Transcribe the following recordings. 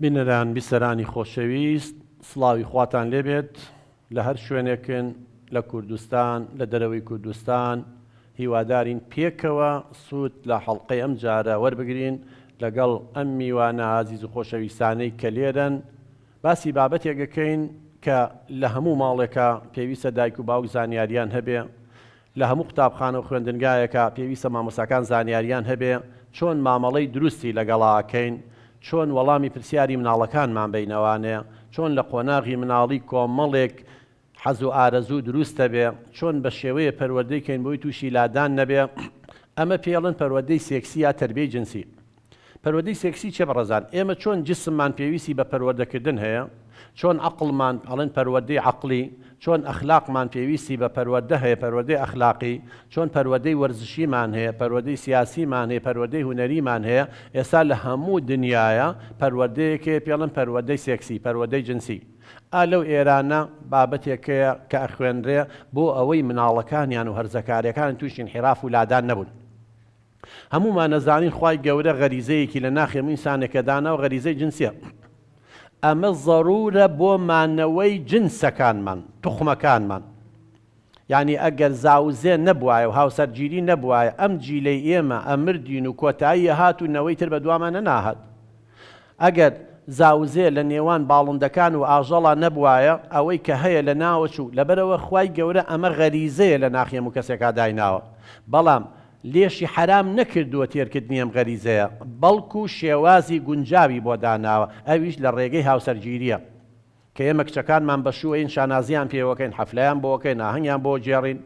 بینەران بیسەرانی خۆشەویست سڵاوی خواتان لێبێت لە هەر شوێنێکن لە کوردستان لە دەرەوەی کوردستان هیوادارین پێکەوە سوود لە حەڵقەی ئەم جارە وەربگرین لەگەڵ ئەم میوانە ئازیز و خۆشەویستانەی کە لێرەن باسی بابەتێک ئەکەین کە لە هەموو ماڵێکا پێویستە دایک و باوک زانیاریان هەبێ لە هەموو قوتابخانە و خوێندنگایەکا پێویستە مامۆستاکان زانیاریان هەبێ چۆن مامەڵەی دروستی لەگەڵا ئەکەین، چۆن وەڵامی پرسیاری مناڵەکانمان بەینەوانێ، چۆن لە قۆناغی مناڵی کۆمەڵێک حەز و ئارەزوو دروستە بێ، چۆن بە شێوەیێ پەروەردەی کەین بۆی تووشی لادان نەبێ، ئەمە پێڵێن پەروەدەی سێکسی یا تەربیەی جنسی. پەروەدەی سێکسی چیە بەڕێزان؟ ئێمە چۆن جسممان پێویستی بە پەروەردەکردن هەیە، چۆن عەقڵمان، ئەڵێن پەروەردەی عەقڵی، چۆن ئەخلاقمان پێویستی بە پەروەردە هەیە، پەروەردەی ئەخلاقی، چۆن پەروەدەی وەرزشیمان هەیە، پەروەدەی سیاسیمان هەیە، پەروەدەی هونەریمان هەیە، ئێستا لە هەموو دنیایا پەروەردەیەک هەیە پێڵێن پەروەدەی سێکسی، پەروەدەی جنسی. ئا لەو ئێرانە بابەتێک هەیە کە ئەخوێنرێ بۆ ئەوەی مناڵەکانیان و هەرزەکارەکانیان تووشی ئینحیراف و لادان نەبوون. هەموومان ئەزانین خوای گەورە غەریزەیەکی لە ناخی هەموو ئینسانێکە داناوە غەریزەی جنسیە ئەمە زەرورە بۆ مانەوەی جنسەکانمان توخمەکانمان یانی ئەگەر زاوزێ نەبوایە و هاوسەرگیری نەبوایە ئەم جیلەی ئێمە ئەمردین و کۆتایی ئەهات و نەوەی تر بەدوامان نەناهات ئەگەر زاوزێ لە نێوان باڵندەکان و ئاژەڵا نەبوایە ئەوەی کە هەیە لە ناوەچوو لەبەرئەوە خوای گەورە ئەمە غەریزەیە لە ناخی هەموو کەسێکا دایناوە بەڵام لێشی حەرام نەکردووە تێرکردنی ئەم غەریزەیە، بەڵکو شێوازی گونجاوی بۆ داناوە، ئەویش لە ڕێگەی هاوسەرگیرییە، کە ئێمە کچەکانمان بەشووەین شانازییان پێوەکەین، حەفلەیان بۆکەین، ئاهەنگیان بۆ گێڕین،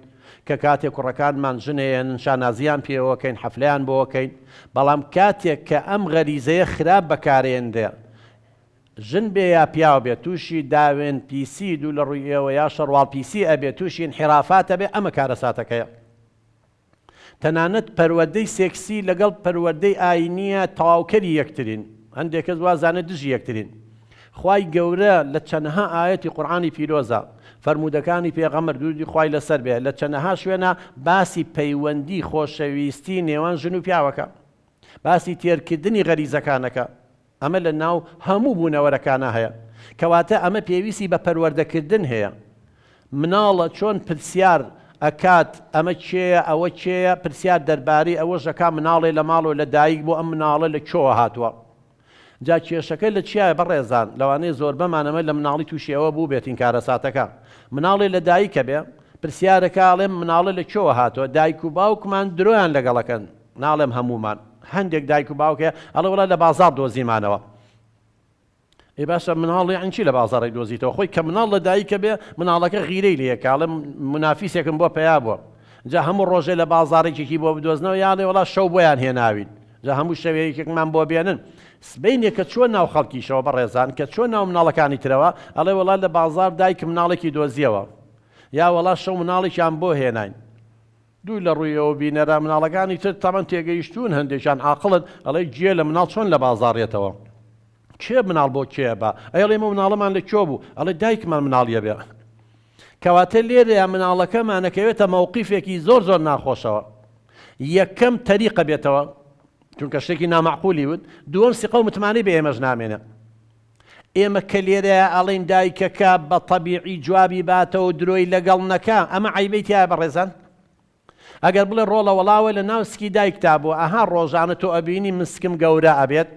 کە کاتێک کوڕەکانمان ژنێێنن شانازییان پێوەکەین، حەفلەیان بۆکەین، بەڵام کاتێک کە ئەم غەریزەیە خراپ بەکارێنرێ، ژن بێ یا پیاو بێ تووشی داوێن پیسی، دوو لە ڕووی ئێوە یا شەڕواڵ پیسی ئەبێ، تووشی ئینحیرافات ئەبێ، ئەمە کارەساتەکەیە. تەنانەت پەروەردەی سێکسی لەگەڵ پەروەردەی ئاینیە تەواوکەری یەکترین، هەندێک کەس وازانێت دژی یەکترین. خوای گەورە لە چەنەها ئایەتی قورئانی پیرۆزە، فەرموودەکانی پێغەمبەر دروودی خوای لەسەر بێ لە چەنەها شوێنا باسی پەیوەندی خۆشەویستی نێوان ژن و پیاوەکە. باسی تێرکردنی غەریزەکانەکە. ئەمە لە ناو هەموو بوونەوەرەکانا هەیە، کەواتە ئەمە پێویستی بە پەروەردە کردن هەیە، مناڵە چۆن پرسیار ئەکات ئەمە کێیە ئەوە کێیە پرسیار دەربارەی ئەوەش ئەکا مناڵێ لە ماڵەوە لە دایک بۆ ئەم مناڵە لە کوێوە هاتووە جا کێشەکە لە چیایە بەڕێزان لەوانەیە زۆربەمان ئەمە لە مناڵی تووشی ئەوە بووبێتین کارەساتەکە مناڵێ لە دایکە بێ پرسیارەکە ئەڵێم مناڵە لە کوێوە هاتووە دایک و باوکمان درۆیان لەگەڵ ئەکەن ناڵێم هەموومان هەندێک دایک و باوک هەیە ئەڵێ وەڵا لە بازاڕ دۆزیمانەوە ئەی باشە مناڵ یانی چی لە بازاڕی دۆزیتەوە خۆی کە مناڵ لە دایکە بێ مناڵەکە غیرەی لێ کاڵێ منافیسێکم بۆ پیا بووە جا هەموو ڕۆژێ لە بازاڕێکێکی بۆ بدۆزنەوە یاڵێ وڵا شەو بۆیان هێناوین جا هەموو شەوەیەکێکمان بۆ بێنن سبینێک کە چۆن ناو خەڵکیشەوە بە ڕێزان کە چۆن ناو مناڵەکانی ترەوە ئەڵێ وڵا لە بازار دایک مناڵێکی دۆزیەوە یا وڵا شەو مناڵێکیان بۆ هێناین دوور لە ڕووی ئەوە بینەرە مناڵەکانی تر تەمەن تێگەیشتوون هەندێکیان ئاقڵن ئەڵێی گوێ لە مناڵ چۆن لە بازاڕیەتەوە کێ مناڵ بۆ کێ بە ئەیڵێ ئێمە مناڵەمان لە کوێ بوو ئەڵێ دایکمان مناڵیە بێ کەواتە لێرەیە مناڵەکەمانەکەوێتە مەوقیفێکی زۆر زۆر ناخۆشەوە یەکەم تەریقە بێتەوە چونکە شتێکی نامەعقولی وت دووەم سیقە و متمانەی بە ئێمەش نامێنێ ئێمە کە لێرەیا ئەڵێین دایکەکە بە تەبیعی جوابی باتەوە درۆی لەگەڵ نەکا ئەمە عەیبەی تیایە بەڕێزان؟ ئەگەر بڵێ ڕۆڵە وەڵاوە لە ناو سکی دایکتا بووە ئەها ڕۆژانە تۆ ئەبینی من سکم گەورە ئەبێت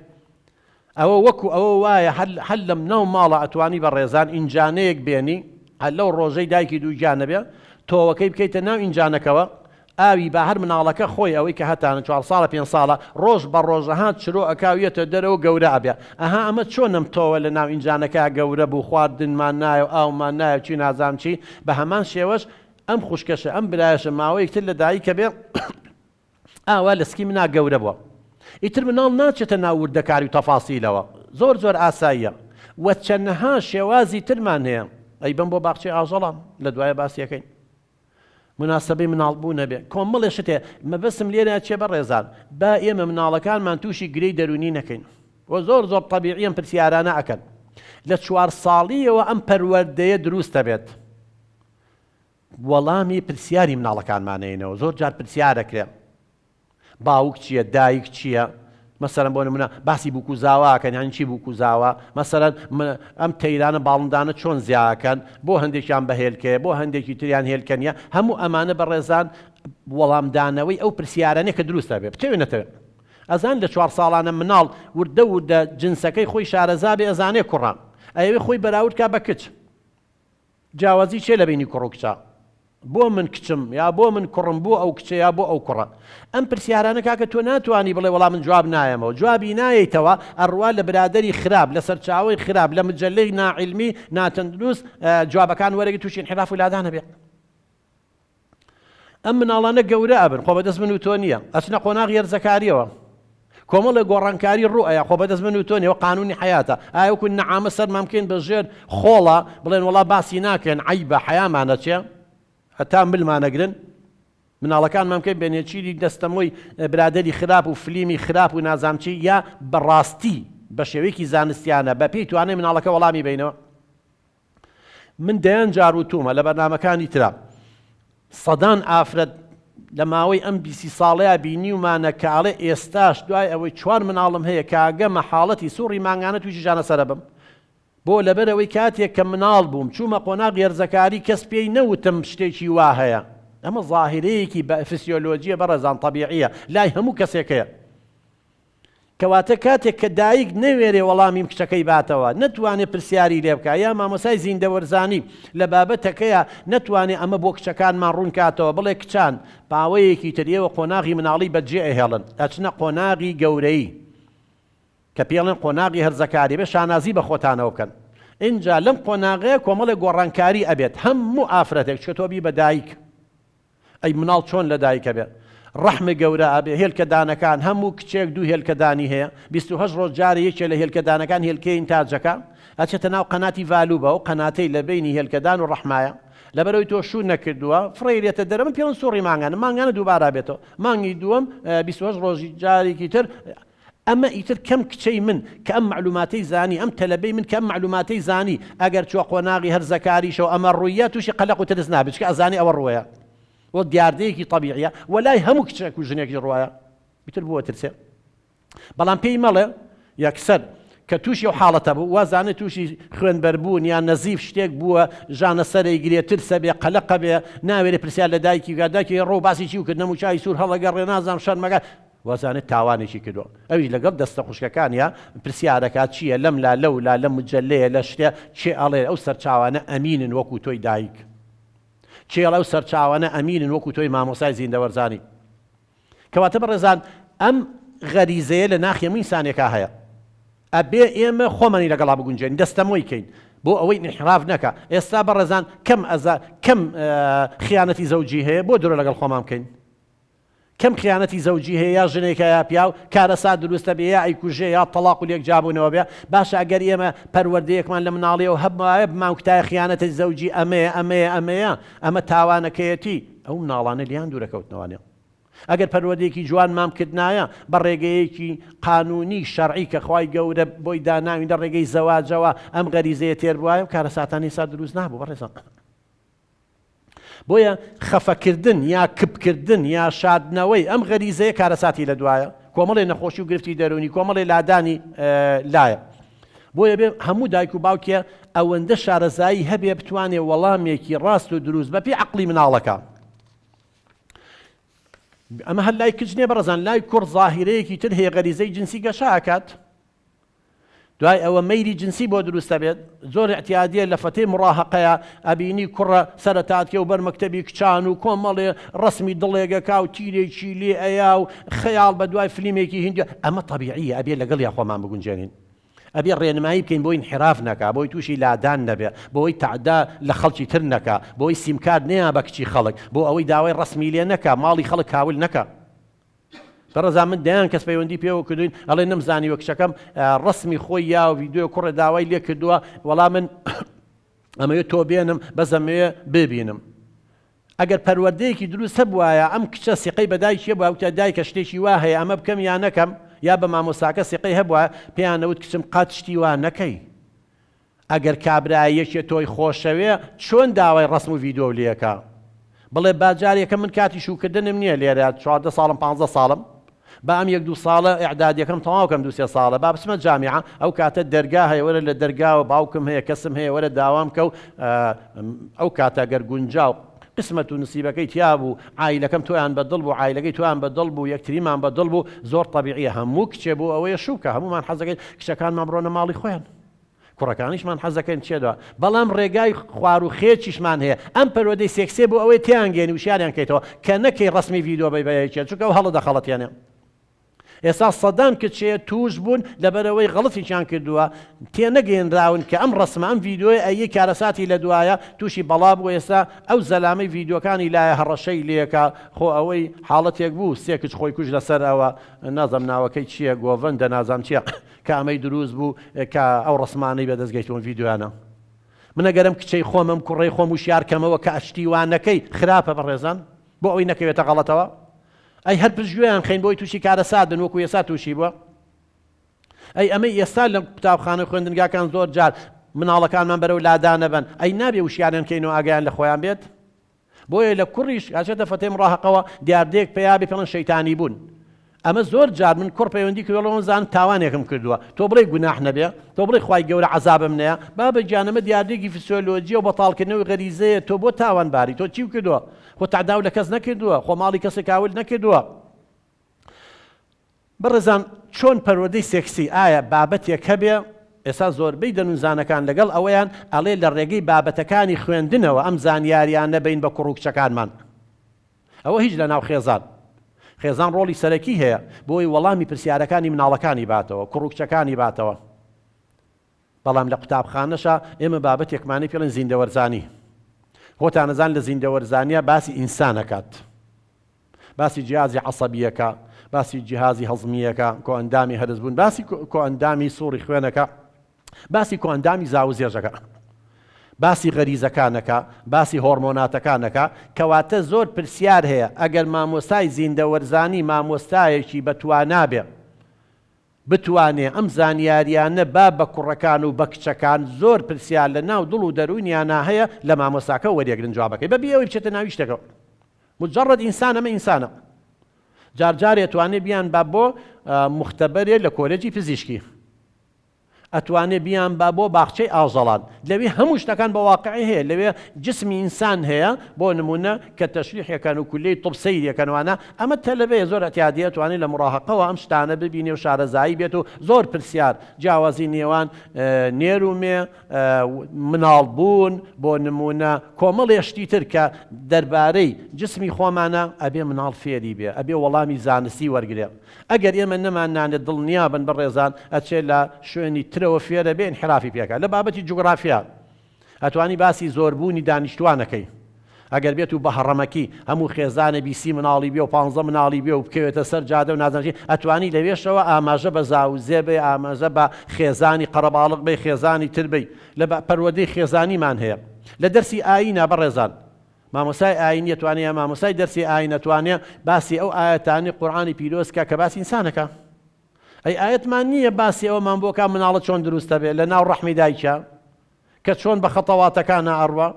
ئەوە وەکو ئەوە وایە هەر لەم ناو ماڵە ئەتوانی بە ڕێزان ئینجانەیەک بێنی هەر لەو ڕۆژەی دایکی دووگیانەبێ تۆوەکەی بکەیتە ناو ئینجانەکەوە ئاوی با هەر مناڵەکە خۆی ئەوەی کە هەتانە چوار ساڵە پێنج ساڵە ڕۆژ بە ڕۆژ ئەها چرۆ ئەکا و یەتە دەرەوە گەورە ئەبێ ئەها ئەمە چۆن ئەم تۆوە لە ناو ئینجانەکە گەورە بوو خواردنمان نایە و ئاومان نایە و چی نازانم چی بە هەمان شێوەش ئەم خوشکەشە ئەم برایەشە ماوەیەک تر لە دایکە بێ ئاوا لە سکی منا گەورە بووە ئیتر مناڵ ناچێتە ناو وردەکاری و تەفاسیلەوە زۆر زۆر ئاساییە و چەنەها شێوازی ترمان هەیە ئەی بەم بۆ باخچەی ئاژەڵە لە دوایە باسیەکەین. مناسبەی مناڵ بوو نەبێ کۆمەڵێ شتێ مەبەستم لێرە چیە بەڕێزان با ئێمە مناڵەکانمان تووشی گرێی دەروونی نەکەین وە زۆر زۆر تەبیعی ئەم پرسیارانە ئەکەن لە چوار ساڵیەوە ئەم پەروەردەیە دروست دەبێت وەڵامی پرسیاری مناڵەکانمانەینەوە زۆر جار پرسیارەکرێن باوک چیە دایک چیە مەسەلەن بۆ نمونە باسی بوکوزاوا ئەکەن یانی چی بوکوزاوا مەسەلەن ئەم تەیرانە باڵندانە چۆن زیاکەن بۆ هەندێکیان بە هێلکەیە بۆ هەندێکی تریان هێلکە نیە هەموو ئەمانە بەڕێزان وەڵامدانەوەی ئەو پرسیارانێ کە دروستە بێ بتەوێ نەتەوێ ئەزان لە چوار ساڵانە مناڵ وردە وردە جنسەکەی خۆی شارەزا بێ ئەزانێ کوڕە ئەیەوێ خۆی بەراورد کا بە کچ جیاوازی چیە لەبەینی کوڕ و کچا؟ بۆ من کچم یا بۆ من کوڕم بۆ ئەو کچە یا بۆ ئەو کوڕە؟ ئەم پرسیارانە کاکە تۆ ناتوانی بڵێ وەڵا من جواب نایەمەوە جوابی نایەیتەوە ئەڕوا لە برادەری خراپ لە سەرچاوەی خراپ لە مجەلەی ناعیلمی ناتەندروست جوابەکان وەرەگری توشی ئینحیراف و لادانەبێ. ئەم مناڵانە گەورە ئەبن خۆ بەدەست من و تۆ نییە ئەچنە قۆناغی هەرزەکاریەوە کۆمەڵێ گۆڕانکاری ڕوو ئەیا خۆ بەدەست من و تۆ نیەوە قانونی حیاتە ئاوکو نەعامە سەرمان بکەین بە ژێر خۆڵە بڵێن وڵا باسی ناکەن عی بە حەیامانە چێ هەتا ملمانەگرن مناڵەکانمان بکەین بە نێچیری دەستەمۆی برادری خراپ و فلیمی خراپ و نازامچی یا بەڕاستی بە شێوەیەکی زانستیانە بە پێی توانای مناڵەکە وەڵامی بینەوە من دەیان جار وتوومە لە بەرنامەکانی ترا، سەدان ئافرەت لە ماوەی ئەم بیسی ساڵەیا بینیومانە کە ئەڵێ ئێستاش دوای ئەوەی چوار مناڵم هەیە کە ئەگەمە حاڵەتی سوڕی مانگانە تووشی ژانەسەرە بم. بۆ؟ لەبەرئەوەی کاتێک کە مناڵ بووم چوومە قۆناغی هەرزەکاری کەس پێی نەوتم شتێکی وا هەیە. ئەمە زاهیرەیەکی فسیۆلۆجییە بەڕێزان، تەبیعییە. لای هەموو کەسێک هەیە. کەواتە کاتێک کە دایک نەوێرێ وەڵامی کچەکەی باتەوە، نەتوانێ پرسیاری لێ بکا، یا مامۆستای زیندەوەرزانی لە بابەتەکەیا نەتوانێ ئەمە بۆ کچەکانمان ڕوون کاتەوە، بڵێ کچان پاوەیەکی تر ئێوە قۆناغی مناڵی بەجێ ئەهێڵن، ئەچنە قۆناغی گەورەیی کە پێڵێن قۆناغی هەرزەکاری، ئەبێ شانازی بە خۆتانەوە بکەن. ئینجا لەم قۆناغەیە کۆمەڵێ گۆڕانکاری ئەبێت، هەموو ئافرەتێک، چکە تۆ بی بە دایک، ئەی مناڵ چۆن لە دایکە بێ ڕەحمە گەورە ئەبێ هێلکە دانەکان هە موو کچێک دوو هێلکە دانی هەیە بیست و هەشت ڕۆژ جارێ یەکێ لە هێلکە دانەکان هێلکەی ئینتاجەکە ئەچێتە ناو قەناتی ڤالوبە ئەو قەناتەی لە بەینی هێلکەدان و ڕەحمایە لەبەرەوەی تۆ شوو نەکردووە فڕێیرێتە دەرە من پێ من سوڕی مانگانە مانگانە دووبارە بێتەوە مانگی دووەم بیست و هەشت ڕۆژی جارێکی تر ئەمە ئیتر کەم کچەی من کە ئەم مەعلوماتەی زانی، ئەم تەلەبەی من کە ئەم مەعلوماتەی زانی، ئەگەر چووە قۆناغی هەرزەکاریشەوە ئەمە ڕوویە تووشی قەلەق و ترس نابێت، چونکە ئەزانێت ئەوە ڕووەیە و دیاردەیەکی تەبیعیە و لای هەموو کچێک و ژنێکیش ڕووەیە ئیتر بۆ ئەترسێت؟ بەڵام پێی مەڵێ یەکسەر کە تووشی ئەو حاڵەتە بوو وازانێت تووشی خوێنبەربوون یان نەزیف شتێک بووە، ژانە سەرەی گرێ، ترسە بێ، قەلەقە بێ، ناوێرێ پرسیار لە دایکی بکات، دایکی ئەی ڕۆ و باسی چی و کردنەموو چای سوور هەڵەگەڕێ نازانم شەرمەکە، وازانێت تاوانێکی کردووە ئەویش لەگەڵ دەستە خوشکەکانیا پرسیارەکات چیە لەم لا لەو لا لەم مجەلەیە لە شتێ کێ ئەڵێ ئەو سەرچاوانە ئەمینن وەکو تۆی دایک کێ ئەڵێ ئەو سەرچاوانە ئەمینن وەکو تۆی مامۆسای زیندەوەرزانی کەواتە بەڕێزان ئەم غەریزەیە لە ناخی هەموو ئینسانێکا هەیە ئەبێ ئێمە خۆمانی لەگەڵا بگونجێن دەستەمۆی کەین بۆ ئەوەی انحراف نەکا ئێستا بەڕێزان کەم ئەزا کەم خیانەتی زەوجی هەیە بۆ درۆ لەگەڵ خۆمان بکەین کەم خیانەتی زەوجی هەیە یا ژنێکە یا پیاو کارەسات دروستە بێ یا ئەیکوژێ یا تەڵاق و لێک جیابونەوە بێ باشە ئەگەر ئێمە پەروەردەیەکمان لە مناڵیەوە هەبوایە بمانکوتایە خیانەتی زەوجی ئەمەیە ئەمەیە ئەمەیە ئەمە تاوانەکەیەتی ئەو مناڵانە لێیان دورەکەوتنەوانێ ئەگەر پەروەردەیەکی جوانمان بکردنایە بە ڕێگەیەکی قانونی شەرعی کە خوای گەورە بۆی داناوین لە ڕێگەی زەواجەوە ئەم غەریزەیە تێر بوایە و کارەساتانی سا دروست نابوو بەڕێزان بۆیە خەفەکردن یا کپکردن یا شاردنەوەی ئەم غەریزەیە کارەساتی لە دوایە، کۆمەڵێ نەخۆشی و گرفتی دەروونی، کۆمەڵێ لادانی لایە. بۆیە بێ هەموو دایک و باوکێ ئەوەندە شارەزایی هەبێ بتوانێ وەڵامێکی ڕاست و دروست بە پێی عەقڵی مناڵەکە. ئەمە هەر لای کچ نیە بەڕێزان، لای کوڕ زاهیرەیەکی تر هەیە غەریزەی جنسی گەشە ئەکات. دوای ئەوە مەیلی جنسی بۆ دروست ئەبێت زۆر اعتیادیە لە فەتەی مڕاهەقەیا ئەبینی کوڕە سەرەتاتکێ و بەر مەکتەبی کچان و کۆمەڵێ ڕەسمی دڵێگەکا و تیرێکی لێ ئەیا و خەیاڵ بە دوای فلیمێکی هیندی ئەمە تەبیعیە ئەبێ لەگەڵیا خۆمان بگونجێنین ئەبێ ڕێنمایی بکەین بۆ ئینحراف نەکا بۆی تووشی لادان نەبێ بۆی تەعدا لە خەڵکی تر نەکا بۆی سیمکارت نەیا بە کچی خەڵک بۆ ئەوەی داوای ڕەسمی لێ نەکا ماڵی خەڵک کاول نەکا بە ڕەزا من دەیان کەس پەیوەندی پێوە کردوین ئەڵێ نەم زانیوە کچەکەم ڕەسمی خۆی یا ڤیدیۆ کوڕێ داوای لێ کردووە وەڵا من ئەمەوێ تۆ بێنم بەس ئەمەوێ ببینم ئەگەر پەروەردەیەکی دروست هەبوایە ئەم کچە سیقەی بەدایکیە باوتە دایکە شتێکی وا هەیە ئەمە بکەم یا نەکەم یا بە مامۆساکە سیقەی هەبووە پێیانەوت کچم قات شتی وا نەکەی ئەگەر کابرا یەکێ تۆی خۆشەوێ چۆن داوای ڕەسم و ڤیدۆو لێکا بڵێ با جار یەکەم من کاتی شوکردنم نیە لێرە چواردە ساڵم پانزە ساڵم با ئەم یەک دوو ساڵە ئیعدادیەکەم تەواو کەم دوو سێ ساڵە با بچمە جامیعە ئەو کاتە دەرگا هەیە وەرە لە دەرگاوە باوکم هەیە کەسم هەیە وەرە داوام کەو ئەو کاتە گەر گونجاو قسمەت و نسیبەکەی تیا بوو عایلەکەم تۆیان بە دڵ بوو عایلەکەی تۆیان بە دڵ بوو یەکتریمان بە دڵ بوو زۆر تەبیعیە هەموو کچێ بۆ ئەوەیە شوکە هەموومان حەزەکەین کچەکانمان بڕۆنە ماڵی خۆیان کوڕەکانیشمان حەزدەکەین بچێتەوە بەڵام ڕێگای خوارو خێچیشمان هەیە ئەم پەروەدەی سێکسیە بۆ ئەوەی تێیانگەیەنی وشیاریان کەیتەوە کە نەکەی ڕەسمی ڤیدۆ بەی بەیەی چێت چونکە ئەو هەڵە دەخەڵەتێنێ ئێستا سەدان کچێ توش بوون لەبەرەوەی غەڵەتیشیان کردووە تێنەگەیەنراون کە ئەم ڕەسمە ئەم ڤیدۆی ئەیی کارەساتی لە دوایە توشی بەڵا بوو ئێستا ئەو زەلامەی ڤیدۆکانی لایە هەڕەشەی لێکا خۆ ئەوەی حاڵەتێک بوو سێ کچ خۆی کوژ لەسەر ئەوە نازەم ناوەکەی چییە گۆڤەندە نازام چییە کامەی دروست بوو کە ئەو ڕەسمانەی بەدەست گەیتوون ڤیدیۆیانە من ئەگەرم کچەی خۆمم کوڕەی خۆم وشیار کەمەوە کە ئەشتی وا نەکەی خراپە بەڕێزان بۆ ئەوی نەکەوێتە غەڵەتەوە ئەی هەر پشگوێیان خەین بۆی تووشی کارەسات بن وەکو ئێستا تووشی بووە ئەی ئەمەی ئێستا لە قوتابخانە خوێندنگاکان زۆر جار مناڵەکانمان بەرەو لادانەبەن ئەی نابێ وشیانیان کەین و ئاگیان لە خۆیان بێت بۆیە لە کوڕیش ئەچێتە فەتەی مڕاهەقەوە دیاردەیەک پەیا بێ پێڵێن شەیتانی بوون ئەمە زۆر جار من کوڕ پەیوەندی کردوە ڵێم زان تاوانێکم کردووە تۆ بڵێ گوناح نەبێ تۆ بڵێ خوای گەورە عەزابم نەیە بابە گیان ئەمە دیاردەیەکی فسیۆلۆجیە و بەتاڵکردنەوەی غەریزەیە تۆ بۆ تاوانباری تۆ چی کردووە خۆ تەعداو لە کەس نەکردووە خۆ ماڵی کەسێک کاول نەکردووە بەڕێزان چۆن پەروەردەی سێکسی ئایا بابەتێک هەبێ؟ ئێستا زۆربەی دەنونزانەکان لەگەڵ ئەوەیان ئەڵێ لە ڕێگەی بابەتەکانی خوێندنەوە ئەم زانیاریانە بەین بە کوڕو کچەکانمان ئەوە هیچ لەناو خێزان خێزان ڕۆڵی سەرەکی هەیە بۆی وەڵامی پرسیارەکانی مناڵەکانی باتەوە کوڕو کچەکانی باتەوە. بەڵام لە قوتابخانەشا ئێمە بابەتێکمانەی پێڵێن زیندەوەرزانی خۆتانەزان لە زیندەوەرزانیا باسی ئینسان ئەکات باسی جیازی عەسەبیەکە باسی جیهازی هەزمیەکە کۆئەندامی هەرس بوون باسی کۆئەندامی سوڕی خوێنەکە باسی کۆئەندامی زاو زێژەکە باسی غەریزەکانەکە باسی هۆرمۆناتەکانەکە کەواتە زۆر پرسیار هەیە ئەگەر مامۆستای زیندەوەرزانی مامۆستایەکی بەتوانابێ بتوانێ ئەم زانیاریانە با بە کوڕەکان و بە کچەکان زۆر پرسیار لە ناو دڵ و دەروونیانا هەیە لە مامۆستاکە وەریەگرن جوابەکەی بە بی ئەوەی بچێتە ناوی شتەکەوە مجرد ئینسان ئەمە ئینسانە جار جار ئەتوانێ بیان با بۆ مختبەرێ لە کۆلێجی پزیشکی ئەتوانێ بیان با بۆ باخچەی ئاوزەڵان لەوێ هەموو شتەکان بە واقعی هەیە لەوێ جسمی ئینسان هەیە بۆ نمونە کە تەشریحەکان و کولەی طب سەیرەکەنوانە ئەمە تەلەبەیە زۆر ئەتیادیە ئەتوانێ لە موڕاهەقەوە ئەم شتانە ببینێ و شارەزایی بێت و زۆر پرسیار جیاوازی نێوان نێر و مێ و مناڵ بوون بۆ نموونە کۆمەڵێ شتی تر کە دەربارەی جسمی خۆمانە ئەبێ مناڵ فێری بێ ئەبێ وەڵامی زانستی وەرگرێ ئەگەر ئێمە نەمان نانێ دڵنیابن بەڕێزان ئەچێ لە شوێنی ترەوە فێرەبێ ئینحرافی پێکا لە بابەتی جوگرافیا ئەتوانی باسی زۆر بوونی دانیشتوان ئەکەی ئەگەر بێت و بەهەڕەمەکی هەموو خێزانێ بیسی مناڵی بێ و پانزە مناڵی بێ و بکەوێتە سەر جادە و نازانیت ئەتوانی لەوێشەوە ئاماژە بە زاوزێ بەی ئاماژە بە خێزانی قەرەباڵغ بەی خێزانی تر بەی لە بە پەروەردەی خێزانیمان هەیە لە دەرسی ئاینە بەڕێزان مامۆسای ئاینی ئەتوانێ یا مامۆسای دەرسی ئاین ئەتوانێ باسی ئەو ئایەتانی قورئانی پیرۆز کا کە باسی ئینسان ئەکا. ئەی ئایەتمان نییە باسی ئەوەمان بۆ کا مناڵە چۆن دروست ئەبێ لە ناو ڕەحمی دایکیا کە چۆن بە خەتەواتەکانا ئەڕوا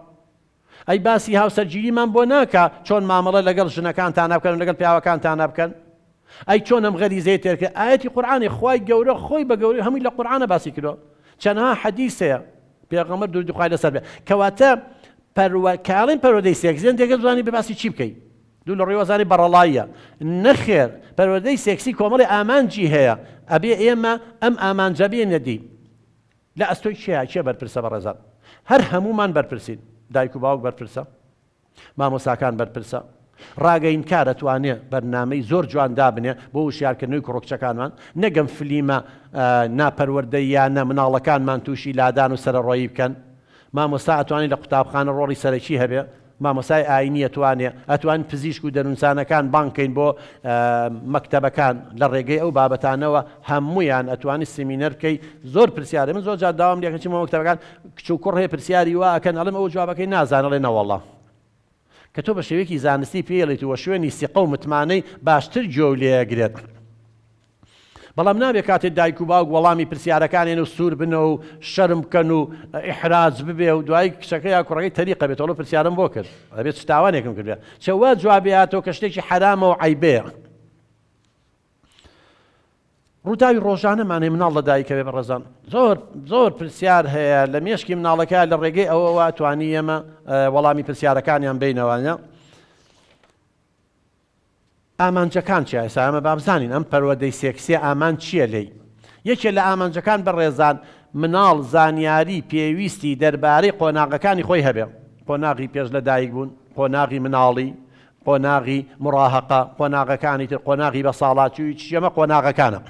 ئەی باسی هاوسەرگیریمان بۆ ناکا چۆن مامەڵە لەگەڵ ژنەکانتانا بکەن و لەگەڵ پیاوەکانتانا بکەن ئەی چۆن ئەم غەریزەی تێرکە ئاەتی قورآانی خوای گەورە خۆی بە گەوری هەمووی لە قورآانە باسی کردو چەنها حەدیسەیە پێغەمە دوردخوای لەسەر بێ کەواتە پەروە کاڵین پەرۆدەی سێکزێن دێگە زوانی بە باسی چی بکەیت دوو لە ڕیوەزانی بەڕەڵاییە. نەخێر پەروەردەی سێکسی کۆمەڵێ ئامانجی هەیە ئەبێ ئێمە ئەم ئامانجە بێنە دی لە ئەستۆی کێیە کێ بەرپرسە بەڕێزان هەر هەموومان بەرپرسین دایک و باوک بەرپرسە مامۆساکان بەرپرسە ڕاگەین کارە توانێ بەرنامەی زۆر جوان دابنێ بۆ وشیارکردنەوەی کوڕکچەکانمان نەگەم فلیمە ناپەروەردە یانە مناڵەکانمان تووشی لادان و سەرەڕۆیی بکەن مامۆستا ئەتوانی لە قوتابخانە ڕۆڵی سەرەکی هەبێ مامۆستای ئاینی ئەتوانێ ئەتوانین پزیشک و دەرونسانەکان بانگ کەین بۆ مەکتەبەکان لە ڕێگەی ئەو بابەتانەوە هەموویان ئەتوانی سیمینەر بکەی زۆر پرسیارە من زۆر جار داوام لێ کە چمە مەکتەبەکان کچ و کوڕ هەیە پرسیاری وا ئەکەن ئەڵێم ئەوە جوابەکەی نازانێ ئەڵێ نەوەڵا کە تۆ بە شێوەیەکی زانستی پێی ئەڵێیت و شوێنی سیقە و متمانەی باشتر گوێو لێ ئەگرێت. بەڵام نابێ کاتێ دایک و باوک وەڵامی پرسیارەکانێن و سوور بن و شەرم بکەن و ئیحراج ببێ و دوایی کچەکە یا کوڕەکەی تەریقە بێت ئەڵێ پرسیارم بۆ کرد ئەبێ چ تاوانێکم کردە چە وا جواب بێاتەوە کە شتێکی حەرامە و عەیبەیە ڕووداوی ڕۆژانەمانەی مناڵ لە دایکەوێ بەڕێزان زۆر زۆر پرسیار هەیە لە مێشکی مناڵەکە لە ڕێگەی ئەوەوە توانی ئێمە وەڵامی پرسیارەکانیان بینەوانە ئامانجەکان چیە ئێستا ئێمە با بزانین ئەم پەروەدەی سێکسیە ئامانج چیە لێی؟ یەکێ لە ئامانجەکان بەڕێزان مناڵ زانیاری پێویستی دەربارەی قۆناغەکانی خۆی هەبێ قۆناغی پێش لە دایک بوون قۆناغی مناڵی قۆناغی مڕاهەقە قۆناغەکانی تر قۆناغی بە ساڵاچوی چی ئەمە قۆناغەکانە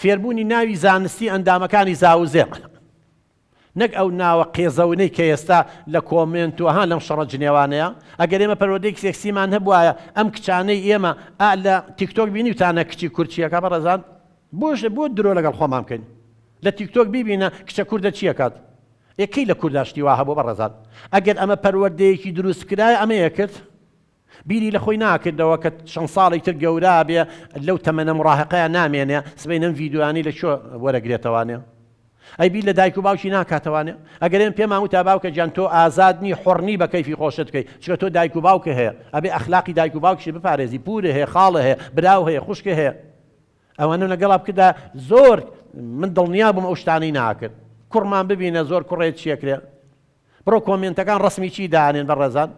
فێربوونی ناوی زانستی ئەندامەکانی زاوزێ. نەک ئەو ناوە قێزەونەی کە ئێستا لە کۆمێنت و ها لەم شەڕە جنێوانەیە ئەگەر ئێمە پەروەردەیەکی سێکسیمان هەبوایە ئەم کچانەی ئێمە ئا لە تیک تۆک بینیوتانە کچی کورد چی ئەکات بەڕێزان بۆش بۆ درۆ لەگەڵ خۆمان بکەین لە تیک تۆک بیبینە کچە کوردە چی ئەکات ئێ کەی لە کوردا شتی وا هەبوو بەڕێزان ئەگەر ئەمە پەروەردەیەکی دروستکرایە ئەمەیە کرد بیری لە خۆی ناکردەوە کە چەند ساڵێک تر گەورابێ لەو تەمەنە مڕاهقەیا نامێنێ سبەین ئەم ڤیدیۆیانەی لە کوێ وەرەگرێتەوانێ؟ ئەی بیر لە دایک و باوکی ناکاتەوانێ؟ ئەگەر ئێمە پێمان وتا باوکە گیان تۆ ئازاد نی حۆڕ نی بە کەیفی خۆشت کەی چونکە تۆ دایک و باوکە هەیە ئەبێ ئەخلاقی دایک و باوکشی بپارێزی پورە هەیە خاڵە هەیە براو هەیە خوشکە هەیە ئەوانە لەگەڵا بکردا زۆر من دڵنیا بووم ئەو شتانەی ناکرد کوڕمان ببینە زۆر کوڕێ چیەکرێ بڕۆ کۆمێنتەکان ڕەسمی چی دانێن بەڕێزان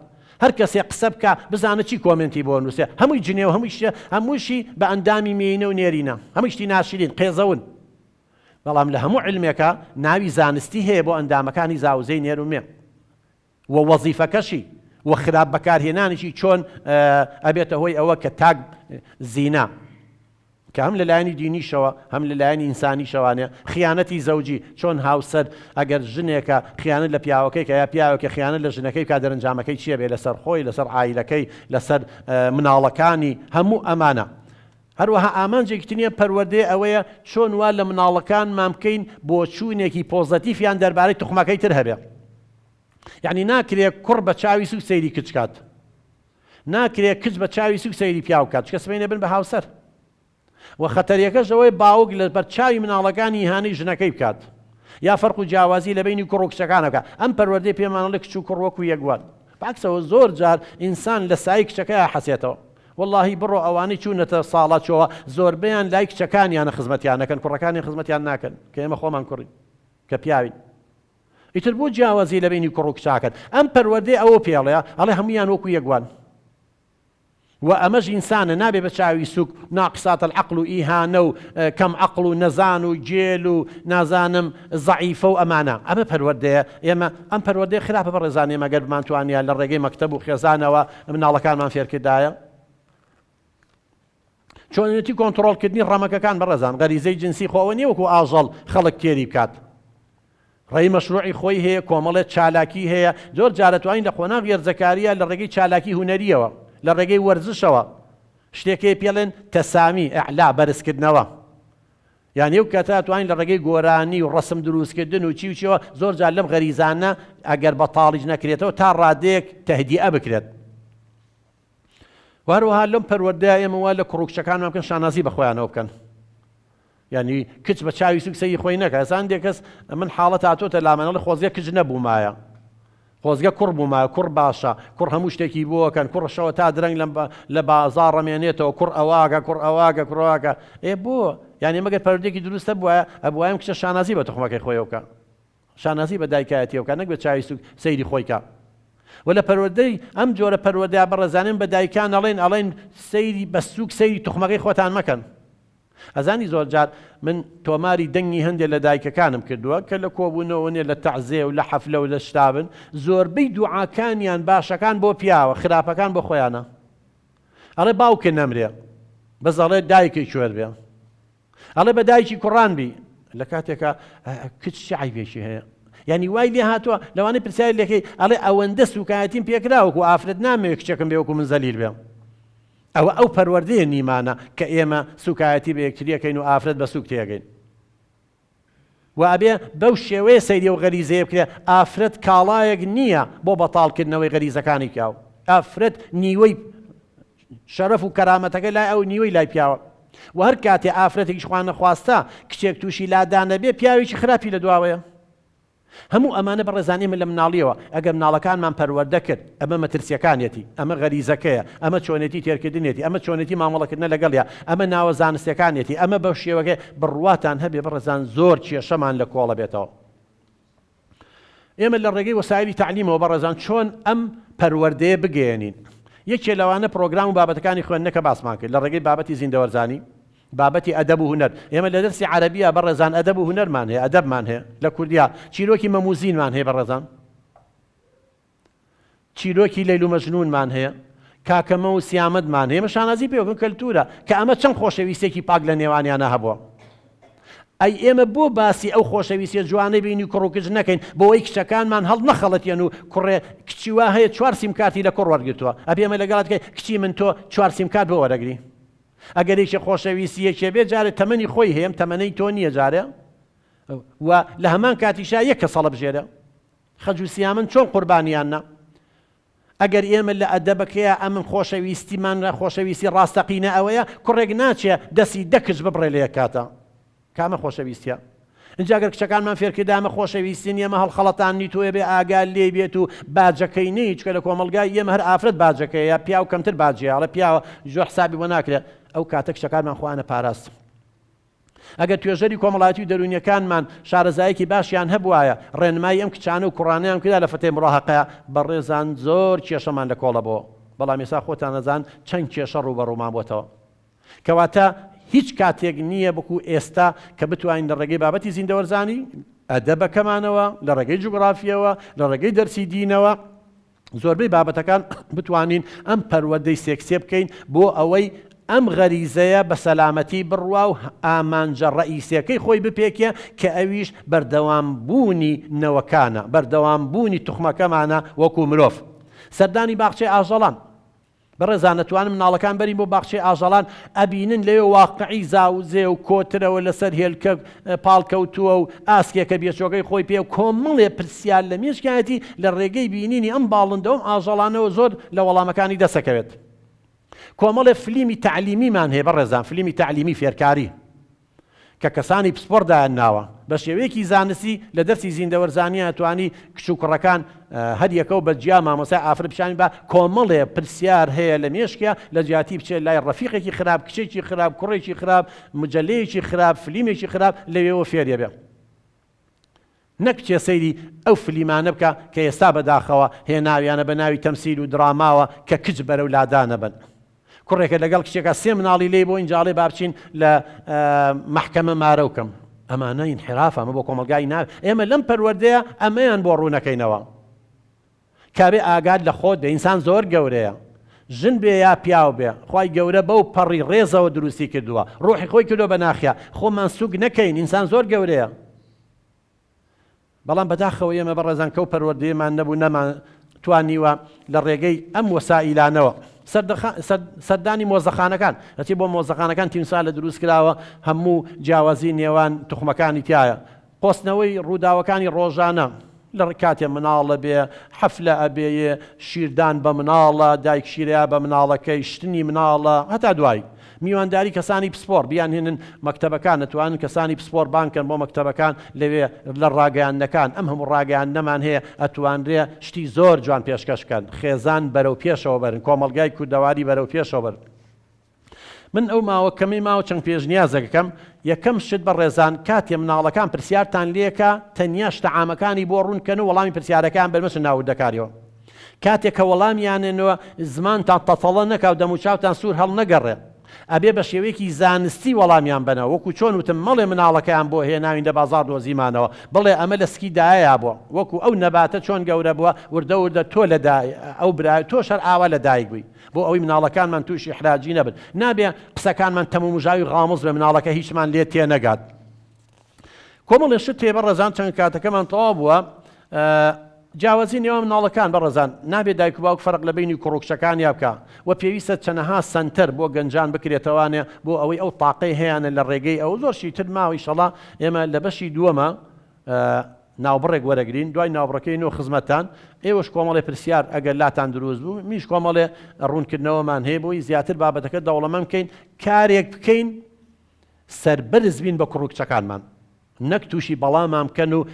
هەر کەسێ قسە بکا بزانە چی کۆمێنتی بۆ نووسێ هەمووی جنێو و هەمووی شتێ هەمووشی بە ئەندامی مێینە و نێرینە هەمووی شتی ناشرین قێزەون بەڵام لە هەموو علمێکا ناوی زانستی هەیە بۆ ئەندامەکانی زاوزێی نێر و مێ و وەزیفەکەشی و خراپ بەکارهێنانیشی چۆن ئەبێتە هۆی ئەوە کە تاک زینا کە هەم لە لایەنی دینیشەوە هەم لە لایەنی ئینسانیشەوانێ خیانەتی زەوجی چۆن هاوسەر ئەگەر ژنێکە خیانەت لە پیاوەکەی کە یا پیاوێکە خیانەت لە ژنەکەی بکا دەرەنجامەکەی چیە بێ لەسەر خۆی لەسەر عایلەکەی لەسەر مناڵەکانی هەموو ئەمانە هەروەها ئامانجێکی تنیە پەروەردەی ئەوەیە چۆن وا لە مناڵەکانمان بکەین بۆچوونێکی پۆزەتیفیان دەربارەی توخمەکەی تر هەبێ یعنی ناکرێ کوڕ بە چاوی سوک سەیری کچکات. ناکرێ کچ بە چاوی سوک سەیری پیاو بکات چکە سبەینێ بن بە هاوسەر وە خەتەریەکەش ئەوەی باوک لە بەر چاوی مناڵەکانی ئیهانەی ژنەکەی بکات یا فەرق و جیاوازی لە بەینی کوڕ و کچەکان بکات ئەم پەروەردەی پێمان ئەڵێ کچ و کوڕ وەکو یەک وان بەعکسەوە زۆر جار ئینسان لە سایەی کچەکەیا حەسێتەوە وەڵاهی بڕۆ ئەوانەی چوونەتە ساڵاچۆوە زۆربەیان لای کچەکانیانە خزمەتیان نەکەن کوڕەکانیان خزمەتیان ناکەن کە ئێمە خۆمان کوڕین کە پیاوین. ئیتر بۆ جیاوازی لە بەینی کوڕ و کچاکەت؟ ئەم پەروەردەی ئەوە پێڵێ ئەڵێ هەموویان وەکو یەک وان. وە ئەمەش ئینسانە نابێ بە چاوی سوک ناقسات العقل و ئیهانە و کەم عەقڵ و نەزان و گێل و نازانم زەعیفە و ئەمانە ئەمە پەروەردەیە ئێمە ئەم پەروەردەیە خراپە بەڕێزان ئێمە گەر بمانتوانیە لە ڕێگەی مەکتەب و خێزانەوە مناڵەکانمان فێرکردایە چۆنێتی کۆنتترۆلکردنی ڕەمەکەکان بەڕێزان غەریزەی جنسی خۆ ئەوە نیە وەکو ئاژەڵ خەڵک تێری بکات ڕێی مەشروعی خۆی هەیە کۆمەڵێت چالاکی هەیە زۆر جارە توانین لە قۆناغ گێرجەکاریە لە ڕێگەی چالاکی هوەریەوە لە ڕێگەی وەرزشەوە شتێکی پێڵێن تەسامی ئەعلا بەرزکردنەوە یعنی و کەتا توانین لە ڕێگەی گۆرانی و ڕسم دروستکردن و چی وچەوە زۆر جار لەم غەریزانە ئەگەر بە تاڵیش نەکرێتەوە تا ڕادێک تهدیە بکرێت وهەروەها لەم پەروەردەیە ئێمە وا لە کوڕ و کچەکانمان بکەن شانازی بە خۆیانەوە بکەن یعنی کچ بە چاوی سوک سەی خۆی نەکە ئەسان دێ کەس من حاڵەت هاتۆتە لامەنەڵی خۆزگە کچ نەبوومایە خۆزگە کوڕ بووما کوڕ باشە کوڕ هەموو شتێکی بووەکەن کوڕشەوە تا درەنگ لەم لە بازار ڕەمێنێتەوە کوڕ ئەواگە کوڕ ئەواگە کوڕواکە ئێ بۆ یعنی مەگەر پەردێکی دروستە بواە ئەبوایم کچە شانازی بە تخمەکەی خۆیەوکە شانازی بە دایکایەتیەوە کا نەک بە چاوی سوک سەیری خۆی کا وە لە پەروەردەی ئەم جۆرە پەروەردە بەڕێزانەم بە دایکان ئەڵێن ئەڵێن سەیری بە سوک سەیری توخمەکەی خۆتان مەکەن ئەزانی زۆر جار من تۆماری دەنگی هەندێک لە دایکەکانم کردووە کە لە کۆبوونەوە نێ لە تەعزێ و لە حەفلە و لە شتابن زۆربەی دوعاکانیان باشەکان بۆ پیاوە خراپەکان بۆ خۆیانە ئەڵێ باوکێ نەمرێ بەس ئەڵێ دایکێ کوێر بێ ئەڵێ بە دایکی کوڕان بی لە کاتێکا کچ چ عیبێکی هەیە یعنی وای لێ هاتووە لەوانەی پرسیاری لەکەی ئەڵێ ئەوەندە سوکایەتیم پێکرا وەکو ئافرەت نامەوێت کچەکەم بێ وەکو من زەلیل بێ ئەوە ئەو پەروەردەیە نیمانە کە ئێمە سوکایەتی بە یەکتریەکەین و ئافرەت بە سوک تێگەین وە ئەبێ بەو شێوەیە سەیری ئەو غەریزەیە بکرێ، ئافرەت کاڵایەک نییە بۆ بەتاڵ کردنەوەی غەریزەکانی پیاو، ئافرەت نیوەی شەرەف و کەرامەتەکەی لای ئەوە نیوەی لای پیاوە، وە هەر کاتێ ئافرەتێکیش خوانەخواستە کچێک تووشی لادانەبێ پیاوێکی خراپی لە دواوەیە. هەموو ئەمانە بەڕێزان ئێمە لە مناڵیەوە ئەگەر مناڵەکانمان پەروەردە کرد ئەمە مەترسیەکانیەتی ئەمە غەریزەکەیە ئەمە چۆنێتی تێرکردنێتی ئەمە چۆنێتی مامەڵەکردنە لەگەڵیا ئەمە ناوە زانستەکانیەتی ئەمە بەو شێوەگە بڕواتان هەبێ بەڕێزان زۆر کێشەمان لە کۆڵە بێتەوە ئێمە لە ڕێگەی وەسایلی تعلیمەوە بەڕێزان چۆن ئەم پەروەردەیە بگەێنین یەکێ لەوانە پرۆگرام و بابەتەکانی خوێندنەکە باسمان کرد لە ڕێگەی بابەتی زیندەوەرزانی بابەتی ئەدەب و هونەر، ئێمە لە دەرسی عەرەبیا بەڕێزان ئەدەب و هونەرمان هەیە، ئەدەبمان هەیە، لە کوردیا چیرۆکی مەم و زینمان هەیە بەڕێزان، چیرۆکی لەیل و مەجنونمان هەیە، کاکەمە و سیامەدمان هەیە، ئێمە شانازی پێوە بکەین کەلتوورە، کە ئەمە چەند خۆشەویستییەکی پاک لە نێوانیانا هەبووە. ئەی ئێمە بۆ باسی ئەو خۆشەویستییە جوانەی بینی کوڕ و کچ نەکەین، بۆوەی کچەکانمان هەڵنەخەڵەتێن و کوڕێ کچی وا هەیە چوار سیمکارتی لە کوڕ وەرگرتووە، ئەبێ ئێمە لەگەڵا دکەین کچی من تۆ چوار سیمکارت بۆ وەرەگری؟ ئەگەر یەکێ خۆشەویستی یەکێ بێ جارێ تەمەنی خۆی هەیەم تەمەنەی تۆ نیە جارێ و لە هەمان کاتیشا یەک کەس هەڵەبژێرە خەج و سیامن چۆن قوربانیان نا ئەگەر ئێمە لە ئەدەبەکەیە ئەمن خۆشەویستیمان خۆشەویستی ڕاستەقینە ئەوەیە کوڕێک ناچێ دەسی دەکچ ببڕێ لە یەک کاتە کامە خۆشەویستیە؟ ئینجا گەر کچەکانمان فێرکردایە ئەمە خۆشەویستی نیە ئەمە هەڵخەڵەتاندنی تۆیە بێ ئاگا لێی بێت و باجەکەی نەی چکە لە کۆمەڵگای ئێمە هەر ئافرەت باجەکەیە پیاو کەمتر باجیە ئەڵێ پیاوە ژۆ حسابی بۆ ناکرێ ئەو کاتە کچەکانمان خۆیان ئەپاراستن. ئەگەر توێژەری کۆمەڵایەتی و دەروونیەکانمان شارەزایەکی باشیان هەبوایە ڕێنمایی ئەم کچانە و کوڕانەیان بکردا لە فتەی مڕاهەقە بەڕێزان زۆر کێشەمان لە کۆڵە بۆوە بەڵام ئێسا خۆتان ئەزان چەند کێشە ڕووبەڕوومان بۆتەوە کەواتە هیچ کاتێک نییە وەکو ئێستا کە بتوانین لە ڕێگەی بابەتی زیندەوەرزانی، ئەدەبەکەمانەوە، لە ڕێگەی جوگرافییەوە، لە ڕێگەی دەرسی دینەوە، زۆربەی بابەتەکان بتوانین ئەم پەروەردەی سێکسییە بکەین بۆ ئەوەی ئەم غەریزەیە بە سەلامەتی بڕوا و ئامانجە ڕەئیسییەکەی خۆی بپێکێ کە ئەویش بەردەوام بوونی نەوەکانە، بەردەوام بوونی توخمەکەمانە وەکو مرۆڤ. سەردانی باخچەی ئاژەڵان. بەڕێزان ئەتوانن مناڵەکان بەرین بۆ باخچەی ئاژەڵان ئەبینن لەوێ واقعی زاو زێ و کۆترەوە لەسەر هێلکە پاڵ کەوتووە و ئاسکێکە بێچۆکەی خۆی پێ کۆمەڵێ پرسیار لە مێشکایەتی لە ڕێگەی بینینی ئەم باڵندە و ئەم ئاژەڵانەوە زۆر لە وەڵامەکانی دەسەکەوێت کۆمەڵێ فلیمی تەعلیمیمان هەیە بەڕێزان فلیمی تەعلیمی فێرکاری. کە کەسانی پسپۆڕ دایانناوە، بە شێوەیەکی زانستی لە دەرسی زیندەوەرزانییە توانی کچ و کوڕەکان هەر یەکەو بە جیا مامۆستای ئافرەت پیشانی با، کۆمەڵێ پرسیار هەیە لە مێشکیا لە جیاتی بچێ لای ڕەفیقێکی خراپ، کچێکی خراپ، کوڕێکی خراپ، مجەلەیەکی خراپ، فلیمێکی خراپ لەوێوە فێریەبێ. نەک کێ سەیری ئەو فلیمانە بکا کە ئێستا بەداخەوە هێناویانە بە ناوی تەمسیل و دراماوە کە کچ بەرەو لادانە بەن کوڕێکە لەگەڵ کچێکا سێ مناڵی لێی بۆ ئینجاڵێ با بچین لە مەحکەمە مارەو کەم ئەمانە ئینحیرافە ئەمە بۆ کۆمەڵگای ناوێ ئێمە لەم پەروەردەیە ئەمەیان بۆ ڕوونەکەینەوە. کابێ ئاگات لە خۆت بێ ئینسان زۆر گەورەیە ژن بێ یا پیاو بێ خوای گەورە بەو پەڕی ڕێزەوە دروستی کردووە ڕۆحی خۆی کردوە بە ناخیا خۆمان سوک نەکەین ئینسان زۆر گەورەیە بەڵام بەداخەوە ئێمە بەڕێزان کەو پەروەردەیەمان نەبوو نەمان توانیوە لە ڕێگەی ئەم وەسائیلانەوە سەردانی مۆزەخانەکان ئەچی بۆ مۆزەخانەکان تیمسا لە دروست کراوە هەموو جیاوازی نێوان تخمەکانی تایە قۆستنەوەی ڕووداوەکانی ڕۆژانە لە کاتێ مناڵە بێ حەفلە ئەبێ یێ شیردان بە مناڵە دایک شیرەیا بە مناڵەکەی شتنی مناڵە هەتا دوایی میوانداری کەسانی پسپۆڕ بیانهێنن مەکتەبەکان ئەتوانن کەسانی پسپۆر بانگ کەن بۆ مەکتەبەکان لەوێ لە ڕاگەیاندنەکان ئەم هەموو ڕاگەیاندنەمان هەیە ئەتوانرێ شتی زۆر جوان پێشکەش کەن خێزان بەرەو پێشەوە بەرن کۆمەڵگای کوردەواری بەرەو پێشەوە بەرن من ئەو ماوە کەمەی ماوە چەند پێشنیازەک ئەکەم، یەکەم شت بەڕێزان کاتێ مناڵەکان پرسیارتان لێکا تەنیا شتە عامەکانی بۆ ڕوون کەن و وەڵامی پرسیارەکەیان بەر مەچن ناو وردەکاریەوە کاتێ کە وەڵامیانێنەوە زمانتان تەتەڵە نەکاو دەمو چاوتان سوور هەڵ نەگەڕێ ئەبێ بە شێوەیەکی زانستی وەڵامیان بەنە وەکو چۆن وتم مەڵێ مناڵەکەیان بۆ هێناوین لە بازاڕ دۆزیمانەوە بڵێ ئەمە لە سکی دایەیا بووە وەکو ئەو نەباتە چۆن گەورە بووە وردە وردە تۆ لە دای ئەو برا تۆش هەر ئاوا لە دایک بووی بۆ ئەوەی مناڵەکانمان تووشی حراجی نەبن نابێ قسەکانمان تەمومژاوی غامز بێ مناڵەکە هیچمان لێ تێ نەگات کۆمەڵێ شت تێ بەڕێزان چەند کاتەکەمان تەوا بووە جیاوازی نێوان مناڵەکان بەڕێزان نابێ دایک و باوک فەرق لە بینی کوڕکشەکان یا بکە و پێویستە چەنەها سنتەر بۆ گەنجان بکرێتەوانێ بۆ ئەوەی ئەو تاقەی هەیەە لە ڕێگەی ئەو زۆر شیتر ماوەی شەڵا ئێمە لە بەشی دووەمە ناوبڕێک وەرەگرین دوای ناوبڕەکەی نۆ خزمەتتان ئێوەش کۆمەڵێ پرسیار ئەگەر لاتان دروست بوو منیش کۆمەڵێ ڕوونکردنەوەمان هەیە بۆی زیاتر بابەتەکە دەوڵەمەند بکەین کارێک بکەین سەربەرز بین بە کوڕ و کچەکانمان نەک تووشی بەڵامان بکەن و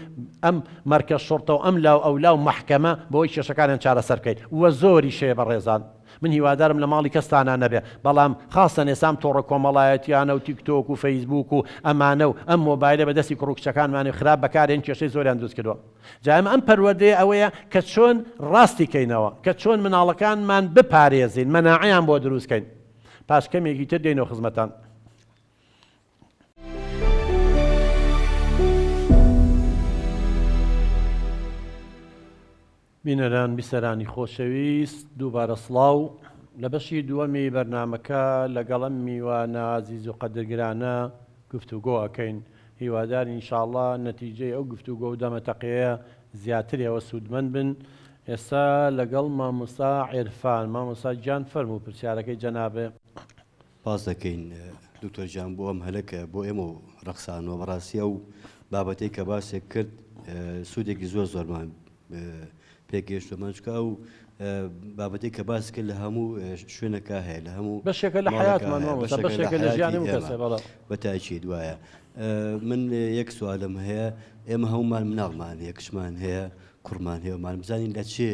ئەم مەرکەز شوڕتە و ئەم لاو ئەولا و مەحکەمە بۆی کێشەکانیان چارەسەر بکەین وە زۆریش هەیە بەڕێزان. من هیوادارم لە ماڵی کەستانا نەبێ بەڵام خاستەن ئێسام تۆڕە کۆمەڵایەتیانە و تیک تۆک و فەیسبووک و ئەمانە و ئەم مۆبایلە بە دەستی کوڕو کچەکانمانی خراپ بەکارێن کێشەی زۆریان دروست کردوە جا ئێمە ئەم پەروەردەیە ئەوەیە کە چۆن ڕاستی کەینەوە کە چۆن مناڵەکانمان بپارێزین مەناعەیان بۆ دروست کەین پاش کەمێکی تر دێینەوە خزمەتان. بینەران بیسەرانی خۆشەویست دووبارە سڵاو لە بەشی دووەمی بەرنامەکە لەگەڵ ئەم میوانە ئازیز و قەدرگرانە گفتوگۆ ئەکەین هیوادار ئینشاڵڵا نەتیجەی ئەو گفتوگۆ و دەمەتەقێیە زیاترەوە سوودمەند بن ئێستا لەگەڵ مامۆستا عێرفان مامۆستا گیان فەرموو پرسیارەکەی جەناب سپاس دەکەین دکتۆر گیان بۆ ئەم هەلە کە بۆ ئێمە و ڕەخسانەوە بەڕاستی ئەو بابەتەی کە باسێک کرد سوودێکی زۆر زۆرمان پێگەیشت و مەنجکە ئەو بابەتی کە باس کرد لە هەموو شوێنەکە هەیە لە هەموو بەشێکە لە حیاتمان بەشێکە لە ژیانی کەسێ بەڵێ بە تاکی دوایە من یەک سوالم هەیە ئێمە هەمومان مناڵمان هەیە کچمان هەیە کوڕمان هەیە مانبزانین لە چێ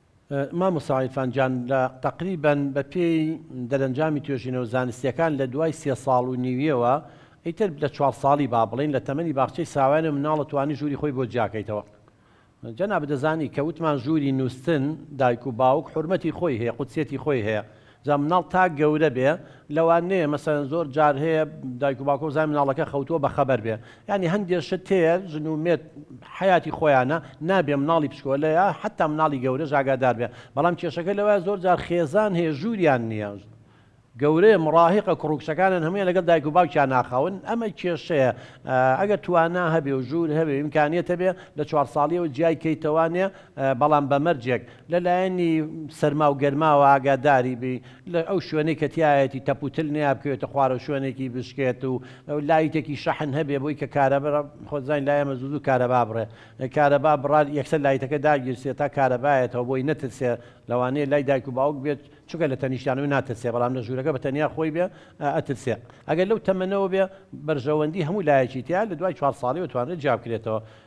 مامۆستا عیرفان جان لە تەقریبەن بە پێی دەرەنجامی توێژینەوە زانستیەکان لە دوای سێ ساڵ و نیویەوە ئیتر لە چوار ساڵی با بڵێین لە تەمەنی باخچەی ساوایانە مناڵە توانی ژووری خۆی بۆ جیاکەیتەوە جەنابت دەزانی کە وتمان ژووری نوستن دایک و باوک حورمەتی خۆی هەیە قودسیەتی خۆی هەیە جا مناڵ تا گەورە بێ لەوان نێ مەسەلەن زۆر جار هەیە دایک و باوکە و زای مناڵەکە خەوتووە بە خەبەر بێ یانی هەندێ شت هەیە ژن و مێرد حەیاتی خۆیانە نابێ مناڵی پشکۆلە یا حەتا مناڵی گەورەش ئاگادار بێ بەڵام کێشەکە لەوایە زۆر جار خێزان هەیە ژووریان نییە گەورەیە مڕاهقە کوڕ و کچەکانیان هەموویان لەگەڵ دایک و باوکیان ناخاون ئەمە کێشەیە ئەگەر توانا هەبێ و ژوور هەبێ و ئیمکانیەت هەبێ لە چوار ساڵیەوە جیای کەیتەوانێ بەڵام بە مەرجێک لە لایەنی سەرما و گەرماوە ئاگاداری بی لە ئەو شوێنەی کە تیایەتی تەپ و تل نەیا بکەوێتە خوارەوە شوێنێکی بشکێت و لایتێکی شەحن هەبێ بۆی کە کارەبا خۆت زانی لای ئێمە زوو زوو کارەبا بڕێ کارەبا بڕا یەکسەر لایتەکە داگیرسێ تا کارەبایەتەوە بۆی نەترسێ لەوانەیە لای دایک و باوک بێت چونکە لە تەنیشتانەوەی ناترسێ بەڵام لە ژوورەکە بە تەنیا خۆی بێ ئەترسێ ئەگەر لەو تەمەنەوە بێ بەرژەوەندی هەموو لایەکی تیا لە دوای چوار ساڵیەوە توانرێت جیا بکرێتەوە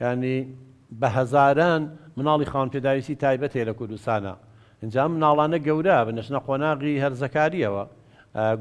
یانی بە هەزاران مناڵی خاوەن پێداویستی تایبەت هەیە لە کوردستانا ئینجا ئەم مناڵانە گەورە ئەبن ئەچنە قۆناغی هەرزەکاریەوە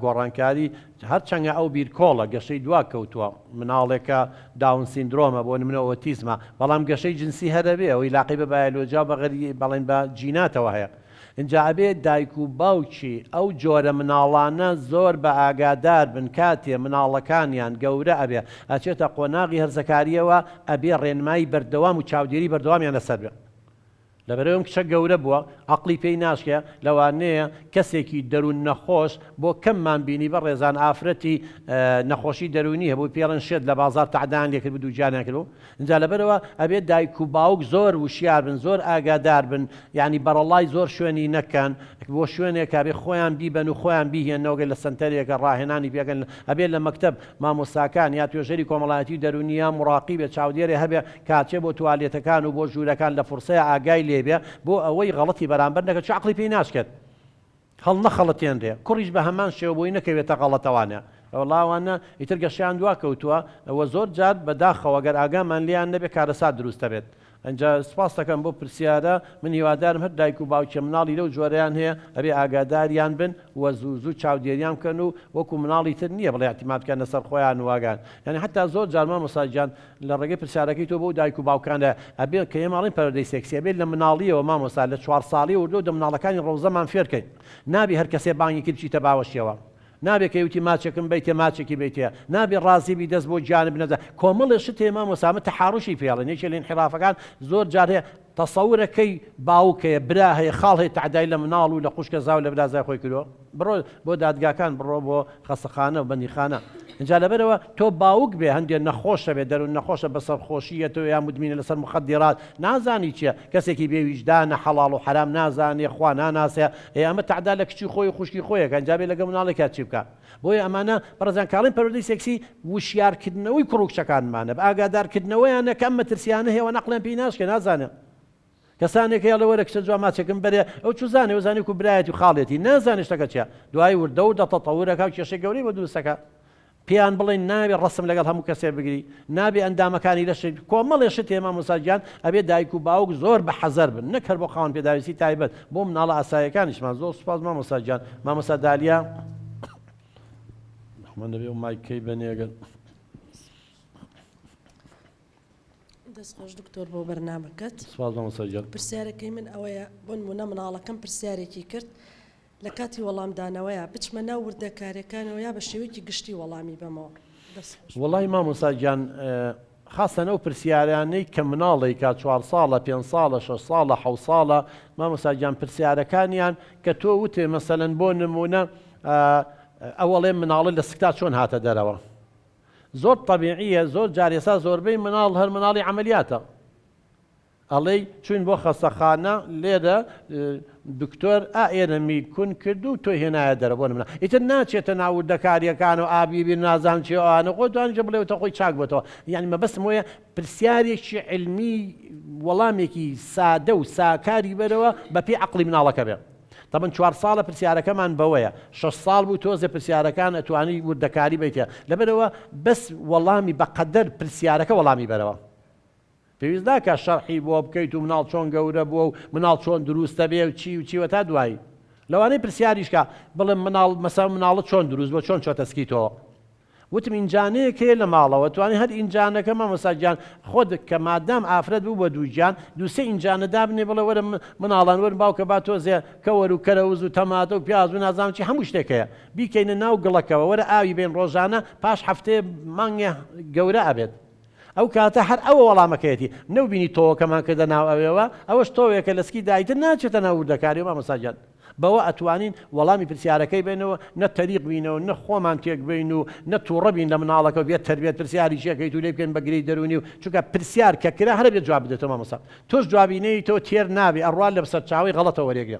گۆڕانکاری هەر چەنگە ئەو بیرکۆڵە گەشەی دوا کەوتووە مناڵێکە داون سیندرۆمە بۆ نمونە ئۆتیزمە بەڵام گەشەی جنسی هەرەبێ ئەوەی لاقی بە بایەلۆجیا بەغەری بەڵێن بە جیناتەوە هەیە ئینجا ئەبێ دایک و باوکی ئەو جۆرە مناڵانە زۆر بە ئاگادار بن کاتێ مناڵەکانیان گەورە ئەبێ ئەچێتە قۆناغی هەرزەکاریەوە ئەبێ ڕێنمایی بەردەوام و چاودێری بەردەوامیان لەسەر بێ لەبەرەوەی ئەم کچە گەورە بووە عەقڵی پێی ناشکێ لەوانەیە کەسێکی دەروون نەخۆش بۆ کەممان بینی بەڕێزان ئافرەتی نەخۆشی دەروونی هەبوو پێڵێن شێت لە بازاڕ تەعدایان لێکردبوو دووگیانیان کردبوو ئینجا لەبەرئەوە ئەبێت دایک و باوک زۆر وشیار بن زۆر ئاگادار بن یانی بەڕەڵڵای زۆر شوێنی نەکەن بۆ شوێنێک ئەبێ خۆیان بیبەن و خۆیان بیهێننەوە گەر لە سەنتەرێکە ڕاهێنانی پێکەن ئەبێ لە مەکتەب مامۆستاکان یا توێژەری کۆمەڵایەتی و دەروونی یا موڕاقیبێ چاودێرێ هەبێ کاچێ بۆ توالێتەکان و بۆ ژوورەکان لە فڕسەیا ئاگای لێبێ بۆ ئەوەی غەڵەتی بەرامبەر نەکە چۆ عەقڵی پێی ناشکێت هەڵنەخەڵەتێنرێ کوڕیش بە هەمان شێوە بۆی نەکەوێتە غەڵەتەوانە وەڵا ئەوانە ئیتر گەشەیان دوا کەوتووە وە زۆر جار بە داخەوە گەر ئاگامان لێیان نەبێ کارەسات دروست دەبێت ئینجا سوپاستەکەم بۆ پرسیارە من هیوادارم هەر دایک و باوکێ مناڵی لەو جۆرەیان هەیە ئەبێ ئاگاداریان بن وە زوو زوو چاودێریان بکەن و وەکو مناڵی تر نیە بڵێ اعتماد بکەنە سەر خۆیان و ئاگایان یانی حەتا زۆر جار مامۆستا گیان لە ڕێگەی پرسیارەکەی تۆ بۆ دایک و باوکانە ئەبێت کە ئێمە ئەڵێین پەروەردەی سێکسی ئەبێت لە مناڵیەوە مامۆستا لە چوار ساڵیەوە لۆ دە مناڵەکانی ڕەوزەمان فێرکەین نابێ هەر کەسێ بانگی کرد بچیتە باوەشیەوە نابێ کەی وتی ماچێکم بەیتێ ماچێکی بەیتێ نابێ ڕازی بی دەست بۆ گیانە بنەزە کۆمەڵێ شت هەیە مامۆستا ئەمە تەحاروشی پێڵێن یەکێ لە ئینحرافەکان زۆر جار هەیە تەسەورە کەی باوک هەیە برا هەیە خاڵ هەیە تەعدای لە مناڵ و لە خوشکە زاو لە برازای خۆی کردوە بڕۆ بۆ دادگاکان بڕۆ بۆ خەسەخانە و بەندیخانە ئینجا لەبەرەوە تۆ باوک بێ هەندێ نەخۆشە بێ دەرون نەخۆشە بە سەرخۆشی یە تۆ یا مدمینە لەسەر مخدرات نازانی چیە کەسێکی بێ ویژدانە حەڵاڵ و حەرام نازانێ خوا ناناسێ ئێ ئەمە تەعدا لە کچی خۆی و خوشکی خۆی ئەکا ئینجا بێ لەگەڵ مناڵێکا چی بکا بۆیە ئەمانە بەڕێزان کاڵین پەروەردەی سێکسی وشیارکردنەوەی کوڕو کچەکانمانە بە ئاگادارکردنەوەیانە کە ئەم مەترسیانە هەیەوە نەقڵیان پێی ناشکێ نازانێ کەسانێک هەیە ئەڵێ وەرە کچە جوان ماچێکم بەرێ ئەو چ زانێ و زانێ کو برایەتی و خاڵێتی نازانێ شتەکە چیە دوای وردە وردە تەتەورەکا و کێشەی گەورەی بۆ دروستەکا پێیان بڵێن ناوێ ڕسم لەگەڵ هەموو کەسێ بگری نابێ ئەندامەکانی لەش کۆمەڵێ شتێ مامۆستا گیان ئەبێ دایک و باوک زۆر بە حەزەر بن نەک هەر بۆ خاوەن پێداویستی تایبەت بۆ مناڵە ئاسایەکانیشمان زۆر سوپاس مامۆستا گیان مامۆستا دالیا من دەبێ مایک کەی بەنێگەن دەستخۆش دکتۆر بۆ بەرنمەکەت سوپاس مامۆستا گیان پرسیارەکەی من ئەوەیە بۆ نمونە مناڵەکەم پرسیارێکی کرد لە کاتی وەڵامدانەوەیە بچمە ناو وردەکارەکانەوە یا بە شێوەیەکی گشتی وەڵامی بەمەوە دەستخۆش وەڵی مامۆستا گیان خاستەن ئەو پرسیارانەی کە مناڵێکا چوار ساڵە پێنج ساڵە شەش ساڵە حەوت ساڵە مامۆستا گیان پرسیارەکانیان کە تۆ وتێ مەسەلەن بۆ نمونە ئەوەڵێ مناڵە لە سکتا چۆن هاتە دەرەوە زۆر تەبیعیە زۆر جار ئێسا زۆربەی مناڵ هەر مناڵی عەمەلیاتە ئەڵێی چوین بۆ خەسەخانە لێرە دکتۆر ئا ئێرە می کون کرد و تۆی هێنایە دەرە بۆ نمونە ئیتر ناچێتە ناو وردەکاریەکانەوە ئا بی بی نازانم چی ئەوانە خۆ دوانیشە بڵێوتە خۆی چاک بۆتەوە یانی مەبەستم وەیە پرسیارێکی علمی وەڵامێکی سادە و ساکاری بەرەوە بە پێی عەقڵی مناڵەکە بێ تەمەن چوار ساڵە پرسیارەکەمان بەوەیە شەش ساڵ بوو تۆزێ پرسیارەکان ئەتوانی وردەکاری بیتە لەبەرەوە بەس وەڵامی بەقەدەر پرسیارەکە وەڵامی بەرەوە. پێویست ناکا شەرحی بۆ بکەیت و مناڵ چۆن گەورە بووە و مناڵ چۆن دروستە بێ و چی و چی وە تا دوایی لەوانەیە پرسیاریش کا بڵێم مناڵ مەسەڵەن مناڵت چۆن دروست بووە چۆن چۆتە سکی تۆ وتم ئینجانەیەک هەیە لە ماڵەوە توانی هەر ئینجانەکە مامۆستا گیان خۆت کە مادام ئافرەت بوو بە دوو گیان دوو سێ ئینجانە دابنێ بڵێ وەرە مناڵان وەرن باوکە با تۆزێ کەوەر و کەرەوز و تەماتە و پیاز و نازانم چی هەموو شتێک هەیە بیکەینە ناو گڵەکەوە وەرە ئاوی بەین ڕۆژانە پاش هەفتەیە مانگێ گەورە ئەبێت ئەو کاتە هەر ئەوە وەڵامەکەیەتی. نەوبینی تۆوەکەمان کردە ناو ئەوێوە؟ ئەوەش تۆوێکە لە سکی دایتر ناچێتە ناو وردەکاریەوە مامۆستا گیان. بەوە ئەتوانین وەڵامی پرسیارەکەی بەینەوە نە تەریق بینە و نە خۆمان تێک بەین و نە توڕە بین لە مناڵەکە و بێ تەربێت پرسیاری چی ئەکەیت و لێی بکەین بە گرێی دەرونی و چونکە پرسیار کە کرا هەرەبێت جواب بدەیتەوە مامۆستا تۆش جوابی نەیەیتەوە تێر نابی ئەڕوا لە سەرچاوەی غەڵەتەوە وەرێگرە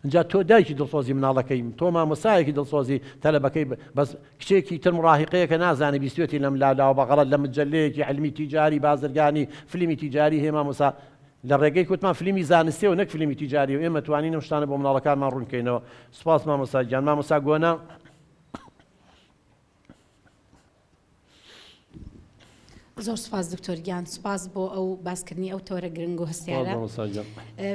ئینجا تۆ دایکی دڵسۆزی مناڵەکەی تۆ مامۆسایەکی دڵسۆزی تەلەبەکەی بەس کچێکی تر مڕاهقەیەکە نازانێ بیستێتی لەم لالاوە بەغەڵەت لە مجلەیەکی علمی تیجاری بازرگانی فلیمی تیجاری هەیە مامۆسا لە ڕێگەی کوتمان فلیمی زانستیەوە نەک فلیمی تیجاری و ئێمە توانین ئەم شتانە بۆ مناڵەکانمان ڕوونکەینەوە سپاس مامۆسا گیان مامۆسا گۆنا زۆر سپاس دکتۆر گیان سپاس بۆ ئەو باسکردنی ئەو تۆرە گرنگ و هەستیارە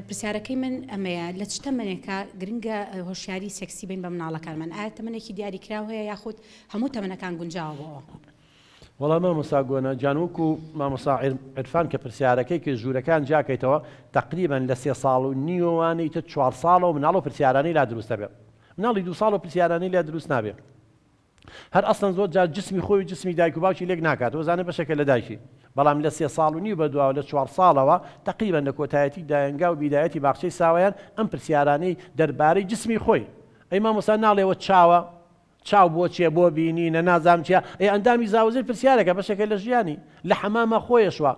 پرسیارەکەی من ئەمەیە لە چ تەمەێکە گرنگە هۆشیاری سێکسی بین بە مناڵەکانمان ئایا تەمەێکی دیاری کراو هەیە یاخود هەموو تەمەەکان گونجاوەوە وەڵام مامۆسا گۆنا جانوک و مامۆسا عرفان کە پرسیارەکەی کە ژوورەکان جاکەیتەوە تقریبان لە سێ ساڵ و نیوەوانی تە چوار ساڵەوە مناڵ و پرسیارانی لا دروستە بێت مناڵی دو ساڵ و پرسیارانی لە دروست نابێت هەر ئەسڵەن زۆر جار جسمی خۆی و جسمی دایک و باوکی لێک ناکات و ئەزانێت بەشێکە لە دایکی، بەڵام لە سێ ساڵ و نیو بەدواوە، لە چوار ساڵەوە، تەقریبەن لە کۆتایەتی دایەنگا و بیدایەتی باخچەی ساوایان، ئەم پرسیارانەی دەربارەی جسمی خۆی، ئەی مامۆستا ناڵێ وە چاوە؟ چاو بۆ چیە؟ بۆ بینینە؟ نازام چیە؟ ئەی ئەندامی زاوزێ پرسیارێکە، بەشێکە لە ژیانی، لە حەماما خۆیەشوە،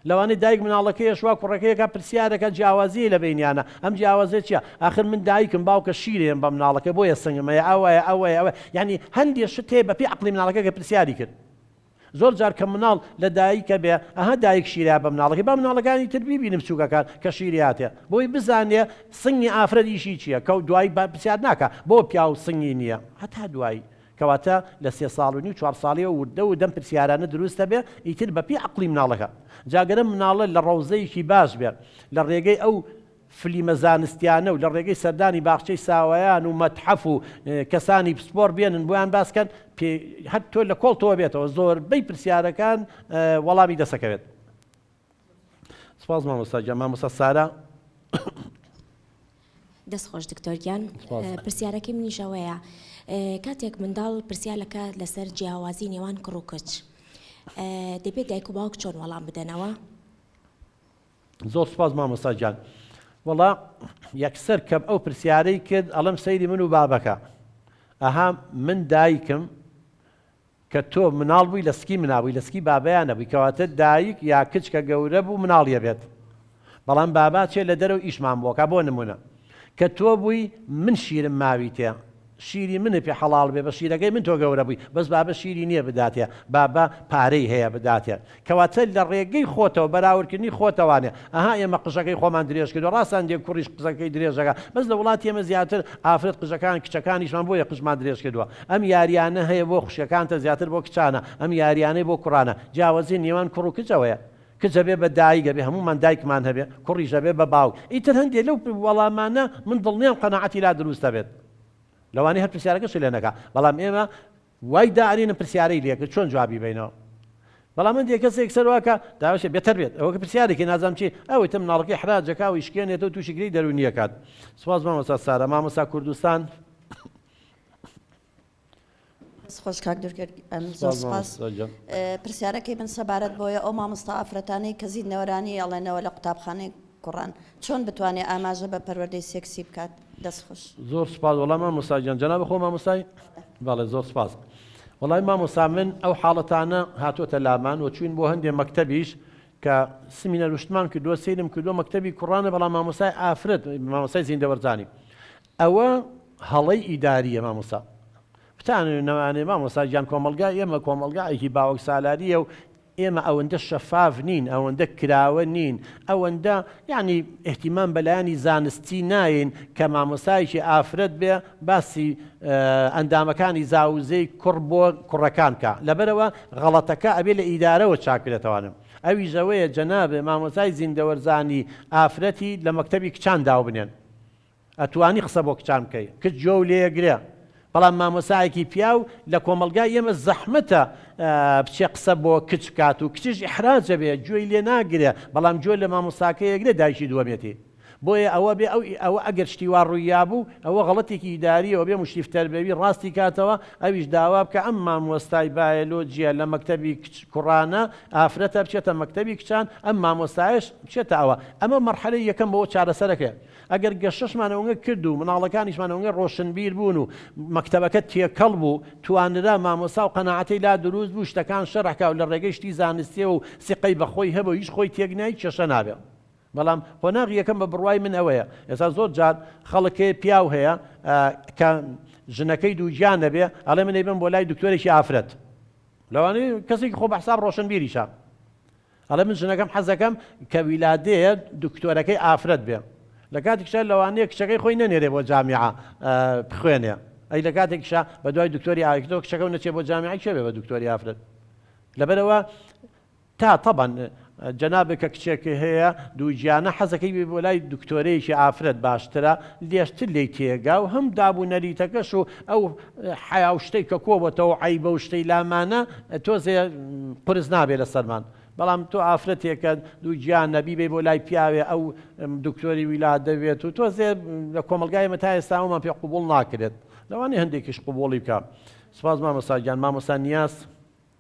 لەوانەیە دایک مناڵەکەیە شوا کوڕەکەیەکە پرسیارەکە جیاوازیی لە بەینیانە ئەم جیاوازیە چیە ئاخر من دایکم باوکە شیرێم بە مناڵەکە بۆیە سنگم هەیە ئەوەیە ئەوەیە ئەوەیە یانی هەندێ شت هەیە بەپێی عەقڵی مناڵەکە کە پرسیاری کرد زۆر جار کە مناڵ لە دایکە بێ ئەها دایک شیرە بە مناڵەکەی با مناڵەکانی تر بیبینی بچووکەکان کە شیریاتێ بۆی بزانێ سنگی ئافرەت ئیشی چیە کە دوایی پرسیار ناکا بۆ پیاو سنگی نیە هەتا دوایی کەواتە لە سێ ساڵ و نیو چوار ساڵیەوە وردە وردە ئەم پرسیارانە دروست ئەبێ ئیتر بە پێی عەقڵی مناڵەکە جا گەر ئەم مناڵە لە ڕەوزەیەکی باش بێ لە ڕێگەی ئەو فلیمە زانستیانە و لە ڕێگەی سەردانی باخچەی ساوایان و مەتحەف و کەسانی پسپۆر بێنن بۆیان باس کەن پێ هەر تۆ لە کۆڵتەوە بێتەوە زۆربەی پرسیارەکان وەڵامی دەسەکەوێت. سپاس مامۆستا گیان مامۆستا سارا. دەست خۆش دکتۆر گیان پرسیارەکەی منیش ئەوەیە کاتێک منداڵ پرسیار لەکە لەسەر جیاوازی نێوان کوڕ و کچ دەبێت دایک و باوک چۆن وەڵام بدەنەوە زۆر سپاس مامۆستا گیان وەڵا یەکسەر کەم ئەو پرسیارەی کرد ئەڵم سەیری من و بابەکە ئەها من دایکم کە تۆ مناڵ بووی لە سکی منا بووی لە سکی بابیا نەبووی کەواتە دایک یا کچ کە گەورە بوو مناڵی ئەبێت بەڵام بابا چێ لە دەرەوە ئیشمان بۆ کا بۆ نمونە کە تۆ بووی من شیرم ماویتێ شیری من پێ حەڵاڵ بێ بە شیرەکەی من تۆ گەورە بووی بەس بابە شیری نییە بداتێ بابە پارەی هەیە بداتێ کەواتە لە ڕێگەی خۆتەوە بەراوردکردنی خۆتەوانێ ئەها ئێمە قژەکەی خۆمان درێژ کردوە ڕاستە هەندێک کوڕیش قژەکەی درێژەکە بەس لە وڵاتی ئێمە زیاتر ئافرەت قژەکان کچەکانیشمان بۆیە قژمان درێژ کردوە ئەم یاریانە هەیە بۆ خوشکەکانتە زیاتر بۆ کچانە ئەم یاریانەی بۆ کوڕانە جیاوەزی نێوان کوڕ و کچەوەیە کچ ئەبێ بە دایک ئەبێ هەموومان دایکمان هەبێ کوڕیش ئەبێ بە باوک ئیتر هەندێ لەو وەڵامانە من دڵنیام قەناعەتی لا دروست ئەبێت لەوانەیە هەر پرسیارەکەشی لێ نەکا بەڵام ئێمە وای دائەنینم پرسیارەی لێ کرد چۆن جوابی بەینەوە بەڵام هەندێ کەسێک سەر واکا داوەشێ بێتەر بێت ئەوەکە پرسیارێکی نازام چی ئەوەی تە مناڵەکەی حرا جەکا و ئیشکێنێتە و تووشی گرێی دەروونی ئەکات سپاس مامۆستا سارا مامۆستا کوردستان خۆش کاک دورکرد پرسیارەکەی من سەبارەت بۆیە ئەو مامۆستا ئافرەتانەی کە زیندنەوەرانی ئەڵێنەوە لە قوتابخانەی کوڕان چۆن بتوانێ ئاماژە بە پەروەردەی سێکسی بکات؟ دەست خوش. زۆر سوپاس وەڵای مامۆستا گیان جەنابی خۆ مامۆستای بەڵێ زۆر سوپاس وەڵای مامۆستا من ئەو حاڵەتانە هاتۆتە لامان و چوین بۆ هەندێ مەکتەبیش کە سمینەر وشتمان کردووە سیرم کردووە مەکتەبی کوڕانە بەڵام مامۆستای ئافرەت مامۆستای زیندەوەرزانی ئەوە هەڵەی ئیداریە مامۆستا بتانەوێ نەمانێ مامۆستا گیان کۆمەڵگای ئێمە کۆمەڵگایەکی باوەک سالاریە و ئێمە ئەوەندە شەفاف نین، ئەوەندە کراوە نین، ئەوەندە یانی ئیهتیمام بە لایەنی زانستی ناین کە مامۆستایەکی ئافرەت بێ باسی ئەندامەکانی زاوزێی کوڕ بۆ کوڕەکان بکا لەبەرئەوە غەڵەتەکە ئەبێ لە ئیدارەوە چاک بێتەوانم ئەویش ئەوەیە جەنابێ مامۆستای زیندەوەرزانی ئافرەتی لە مەکتەبی کچان داوبنێن ئەتوانی قسە بۆ کچان بکەی کچ گوێ و لێیەگرێ بەڵام مامۆسایەکی پیاو لە کۆمەڵگای ئێمە زەحمەتە بچێ قسە بۆ کچ بکات و کچیش ئیحراجە بێ گوێی لێ ناگرێ بەڵام گوێ لە مامۆساکە یەگرێ دایکی دووەمێتی بۆیە ئەوە بێ ئەو ئەوە ئەگەر شتی وا ڕوویا بوو ئەوە غەڵەتێکی ئیداریەوە بێ مشتیفتەر بێوی ڕاستی کاتەوە ئەویش داوا بکە ئەم مامۆستای بایەلۆجیە لە مەکتەبی کچ کوڕانە ئافرەتە بچێتە مەکتەبی کچان ئەم مامۆستایش بچێتە ئەوە ئەمە مەرحەلەی یەکەم بۆ چارەسەرەکەیە ئەگەر گەشەشمان ئەونگە کرد و مناڵەکانیشمان ئەونگە ڕۆشنبیر بوون و مەکتەبەکە تێکەڵ بوو توانرا مامۆستا و قەناعەتەی لا دروست بوو شتەکان شەرح کا و لە ڕێگەی شتی زانستیەوە و سیقەی بە خۆی هەبو هیچ خۆی تێک نای کێشە نابێ بەڵام قۆناغی یەکەم بە بڕوای من ئەوەیە ئێستا زۆر جار خەڵک هەیە پیاو هەیە کە ژنەکەی دووگیان نەبێ ئەڵێ من ئەیبەم بۆ لای دکتۆرێکی ئافرەت لەوانەیە کەسێکی خۆ بە حساب ڕۆشنبیریشە ئەڵێ من ژنەکەم حەزەکەم کە ویلادەیە دکتۆرەکەی ئافرەت بێ لەکاتیکشا لەوانەیە کچەکەی خۆی نەنێرێ بۆ جامیعە بخوێنێ ئەی لەکاتێکیشا بەدوای دکتۆری ئاکتۆ کچەکە و نەچێ بۆ جامیعی چێ بێ بە دکتۆری ئافرەت لەبەرەوە تا طبعا جەنابێک کە کچێکی هەیە دووگیانە حەزەکەی بێ بۆ لای دکتۆرەیەکی ئافرەت باشترە لێشتر لێی تێگا و هەم داب و نەریتەکەش و ئەو حەیا و شتەی کە کۆ بۆتەوە و عەیبە و شتەی لامانە تۆزێ قورس نابێ لەسەرمان بەڵام تۆ ئافرەتێکە دوو گیانە بیبەی بۆ لای پیاوێ ئەو دکتۆری ویلادە بێت و تۆزێ لە کۆمەڵگای ئێمە تا ئێستا ئەومان پێ قبوڵ ناکرێت لەوانەیە هەندێکیش قبوڵی بکا سوپاس مامۆستا گیان مامۆستا نیاز.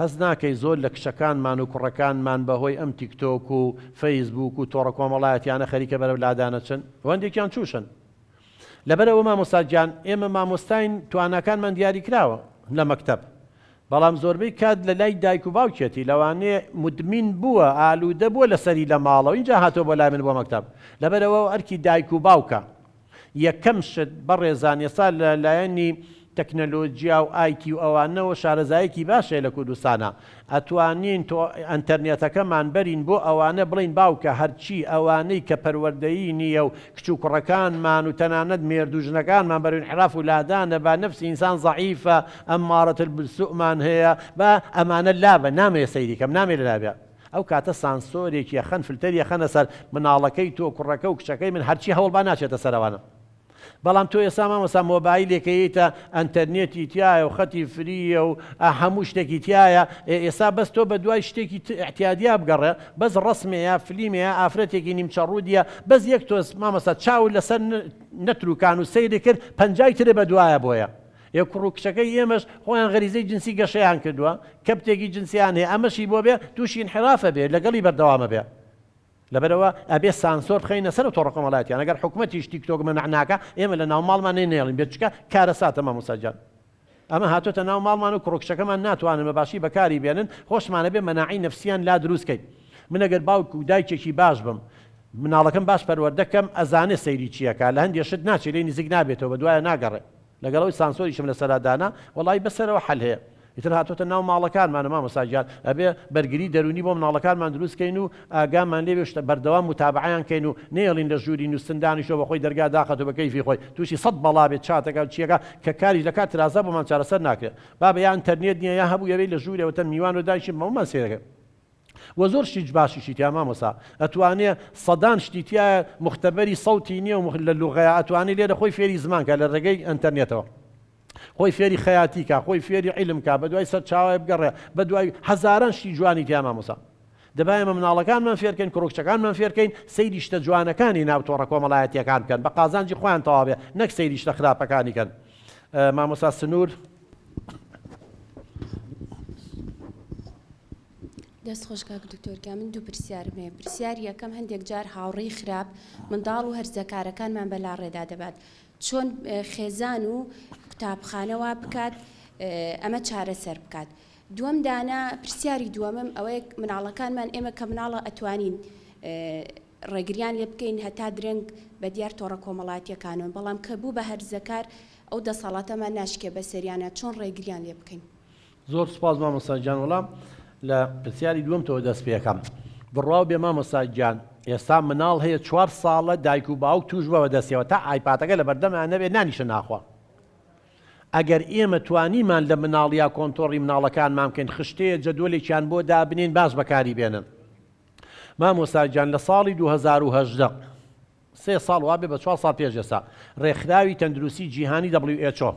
هەست ناکەی زۆر لە کچەکانمان و کوڕەکانمان بە هۆی ئەم تیک تۆک و فەیس بووک و تۆڕە کۆمەڵایەتیانە خەریکە بەرەو لادان ئەچن و هەندێکیان چووشن لەبەر ئەوە مامۆستا گیان ئێمە مامۆستاین تواناکانمان دیاری کراوە لە مەکتەب بەڵام زۆربەی کات لە لای دایک و باوکیەتی لەوانەیە مدمین بووە ئالوودە بووە لەسەری لە ماڵەوە ئینجا هاتووە بۆ لای من بۆ مەکتەب لەبەر ئەوە ئەرکی دایک و باوکە یەکەم شت بەڕێزان ئێستا لە لایەنی تەکنەلۆجیا و ئایتی و ئەوانەوە شارەزایەکی باش هەیە لە کوردستانا ئەتوانین تۆ ئەنتەرنێتەکەمان بەرین بۆ ئەوانە بڵێین باوکە هەرچی ئەوانەی کە پەروەردەیی نیە و کچ و کوڕەکانمان و تەنانەت مێرد و ژنەکانمان بەرەو ئینحراف و لادانە با نەفسی ئینسان زەعیفە ئەمارەتە بالسوءمان هەیە با ئەمانە لابەن نامەوێ سەیری کەم نامەوێ لە لابێ ئەو کاتە سانسۆرێک یەخەن فلتەر یەخەنە سەر مناڵەکەی تۆ کوڕەکە و کچەکەی من هەرچی هەوڵبا ناچێتە سەرەوانە بەڵام تۆ ئێسا مامۆسا مۆبایلێکەیتە ئەنتەرنێتی تایە و خەتی فریە و ئە هەموو شتێکی تایە ئێ ئێسا بەس تۆ بە دوای شتێکی ت ئیعتیادیا بگەڕێ بەس ڕەسمێیا فلیمێیا ئافرەتێکی نیمچە ڕوودیە بەس یەک تۆز مامۆستا چاوت لەسەر نە نەتروکان و سەیری کرد پەنجای ترێ بە دوایە بۆیە یە کوڕ و کچەکەی ئێمەش خۆیان غەریزەی جنسی گەشەیان کردووە کەبتێکی جنسیان هەیە ئەمەشی بۆ بێ توشی ئینحراف ئەبێ لەگەڵی بەردەوام ئەبێ لەبەرئەوە ئەبێ سانسۆر بخەینە سەرو تۆڕە کۆمەڵایەتیان ئەگەر حکومەتیش تیک تۆک مەنع ناکا ئێمە لە ناو ماڵمان نەی نەیەڵین بێ چکە کارەساتە مامۆستا گیان ئەمە هاتۆتە ناو ماڵمان و کوڕ و کچەکەمان ناتوانن بە باشی بەکاری بێنن خۆشمان ئەبێ مەناعەی نەفسیان لا دروست کەین من ئەگەر باوک و دایکێکی باش بم مناڵەکەم باش پەروەردە کەم ئەزانێ سەیری چی ئەکا لە هەندێ شت ناچێ لێی نزیک نابێتەوە بەدوایە ناگەڕێ لەگەڵ ئەوەی سانسۆریشم لەسەرا دانا وەڵایی بەسەرەوە حەل هەیە ئیتر هاتۆتە ناو ماڵەکانمانە مامۆستا گیان ئەبێ بەرگری دەروونی بۆ مناڵەکانمان دروست کەین و ئاگامان لێ بێ بەردەوام موتابەعەیان کەین و نەیەڵین لە ژووری نوستن دانیشتوە بە خۆی دەرگا داخەتو بە کەیفی خۆی توشی سەد بەڵا بێ چاتەکە و چیەکە کە کاریش لە کات ترازا بۆمان چارەسەر ناکرێ بابە یا ئەنتەرنێت نیە یا هەبوو ئەوێی لە ژوورێ وەتەن میوان و دانیشین بەمەمان سەیرەکەن وە زۆر شتی باشیشی تیایە مامۆسا ئەتوانێ سەدان شتی تیایە موختەبەری سەوتی نیە و لە لوغەیە ئەتوانێ لێرە خۆی فێری زمان کا لە ڕێگەی ئەنتەرنێتەوە خۆی فێری خەیاتی کا خۆی فێری عیلم کا بەدوای سەرچاوای بگەڕێ بەدوای هەزاران شتی جوانی تیا مامۆسا دەبا ئێمە مناڵەکانمان فێرکەین کوڕکچەکانمان فێرکەین سەیری شتە جوانەکانی ناو تۆڕە کۆمەڵایەتیەکان بکەن بە قازانجی خۆیان تەواوێ نەک سەیری شتە خراپەکانی کەن مامۆسا سنوور دەست خۆش کاک دکتۆر گیان من دوو پرسیارم هەیە پرسیاری یەکەم هەندێک جار هاوڕێی خراپ منداڵ و هەرزەکارەکانمان بە لاڕێدا دەبات چۆن خێزان و قوتابخانەوە بکات ئەمە چارەسەر بکات دووەم دانا پرسیاری دووەمم ئەوەیە مناڵەکانمان ئێمە کە مناڵە ئەتوانین ڕێگریان لێ بکەین هەتا درەنگ بە دیار تۆڕە کۆمەڵاتیەکانەوە بەڵام کە بوو بە هەرزەکار ئەو دەسەڵاتەمان ناشکێ بە سەریانە چۆن ڕێگریان لێ بکەین زۆر سوپاس مامۆستا گیان وەڵام لە پرسیاری دووەمتەوە دەست پێکەم بڕاو بێ مامۆستا گیان ئێستا مناڵ هەیە چوار ساڵە دایک و باوک توش بە دەستەوە تا ئایپاتەکە لە بەردەمیان نەبێت نانیشە ناخوا ئەگەر ئێمە توانیمان لە مناڵیا کۆنتۆڕی مناڵەکانمان بکەین خشتەیە جەدۆلێکیان بۆ دابنین باش بەکاری بێنن مامۆساجان لە ساڵی 2010 سێ ساڵ وابێ بە چوار ساڵ پێشێسا ڕێکخراوی تەندروستی جیهانی WHO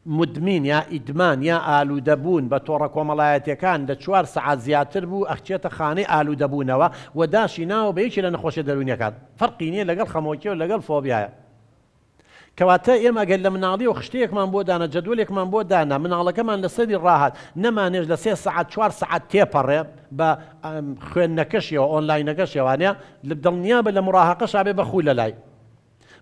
مدمن یا ئیدمان یا ئالوودە بوون بە تۆڕە کۆمەڵایەتیەکان لە چوار سەعات زیاتر بوو ئەخچێتە خانەی ئالوودە بوونەوە و داشی ناوە بە یەکێ لە نەخۆشیە دەروونیەکان فەرقی نیە لەگەڵ خەمۆکیە و لەگەڵ فۆبیایە کەواتە ئێمە گەر لە مناڵیەوە خشتەیەکمان بۆ دانا جەدوەلێکمان بۆ دانا مناڵەکەمان لەسەری ڕاهات نەمانێش لە سێ سەعات چوار سەعات تێپەڕێ بە خوێندنەکەشیەوە ئۆنلاینەکەشیەوانە دڵنیابە لە مڕاهەقەشابێ بە خوو لەلای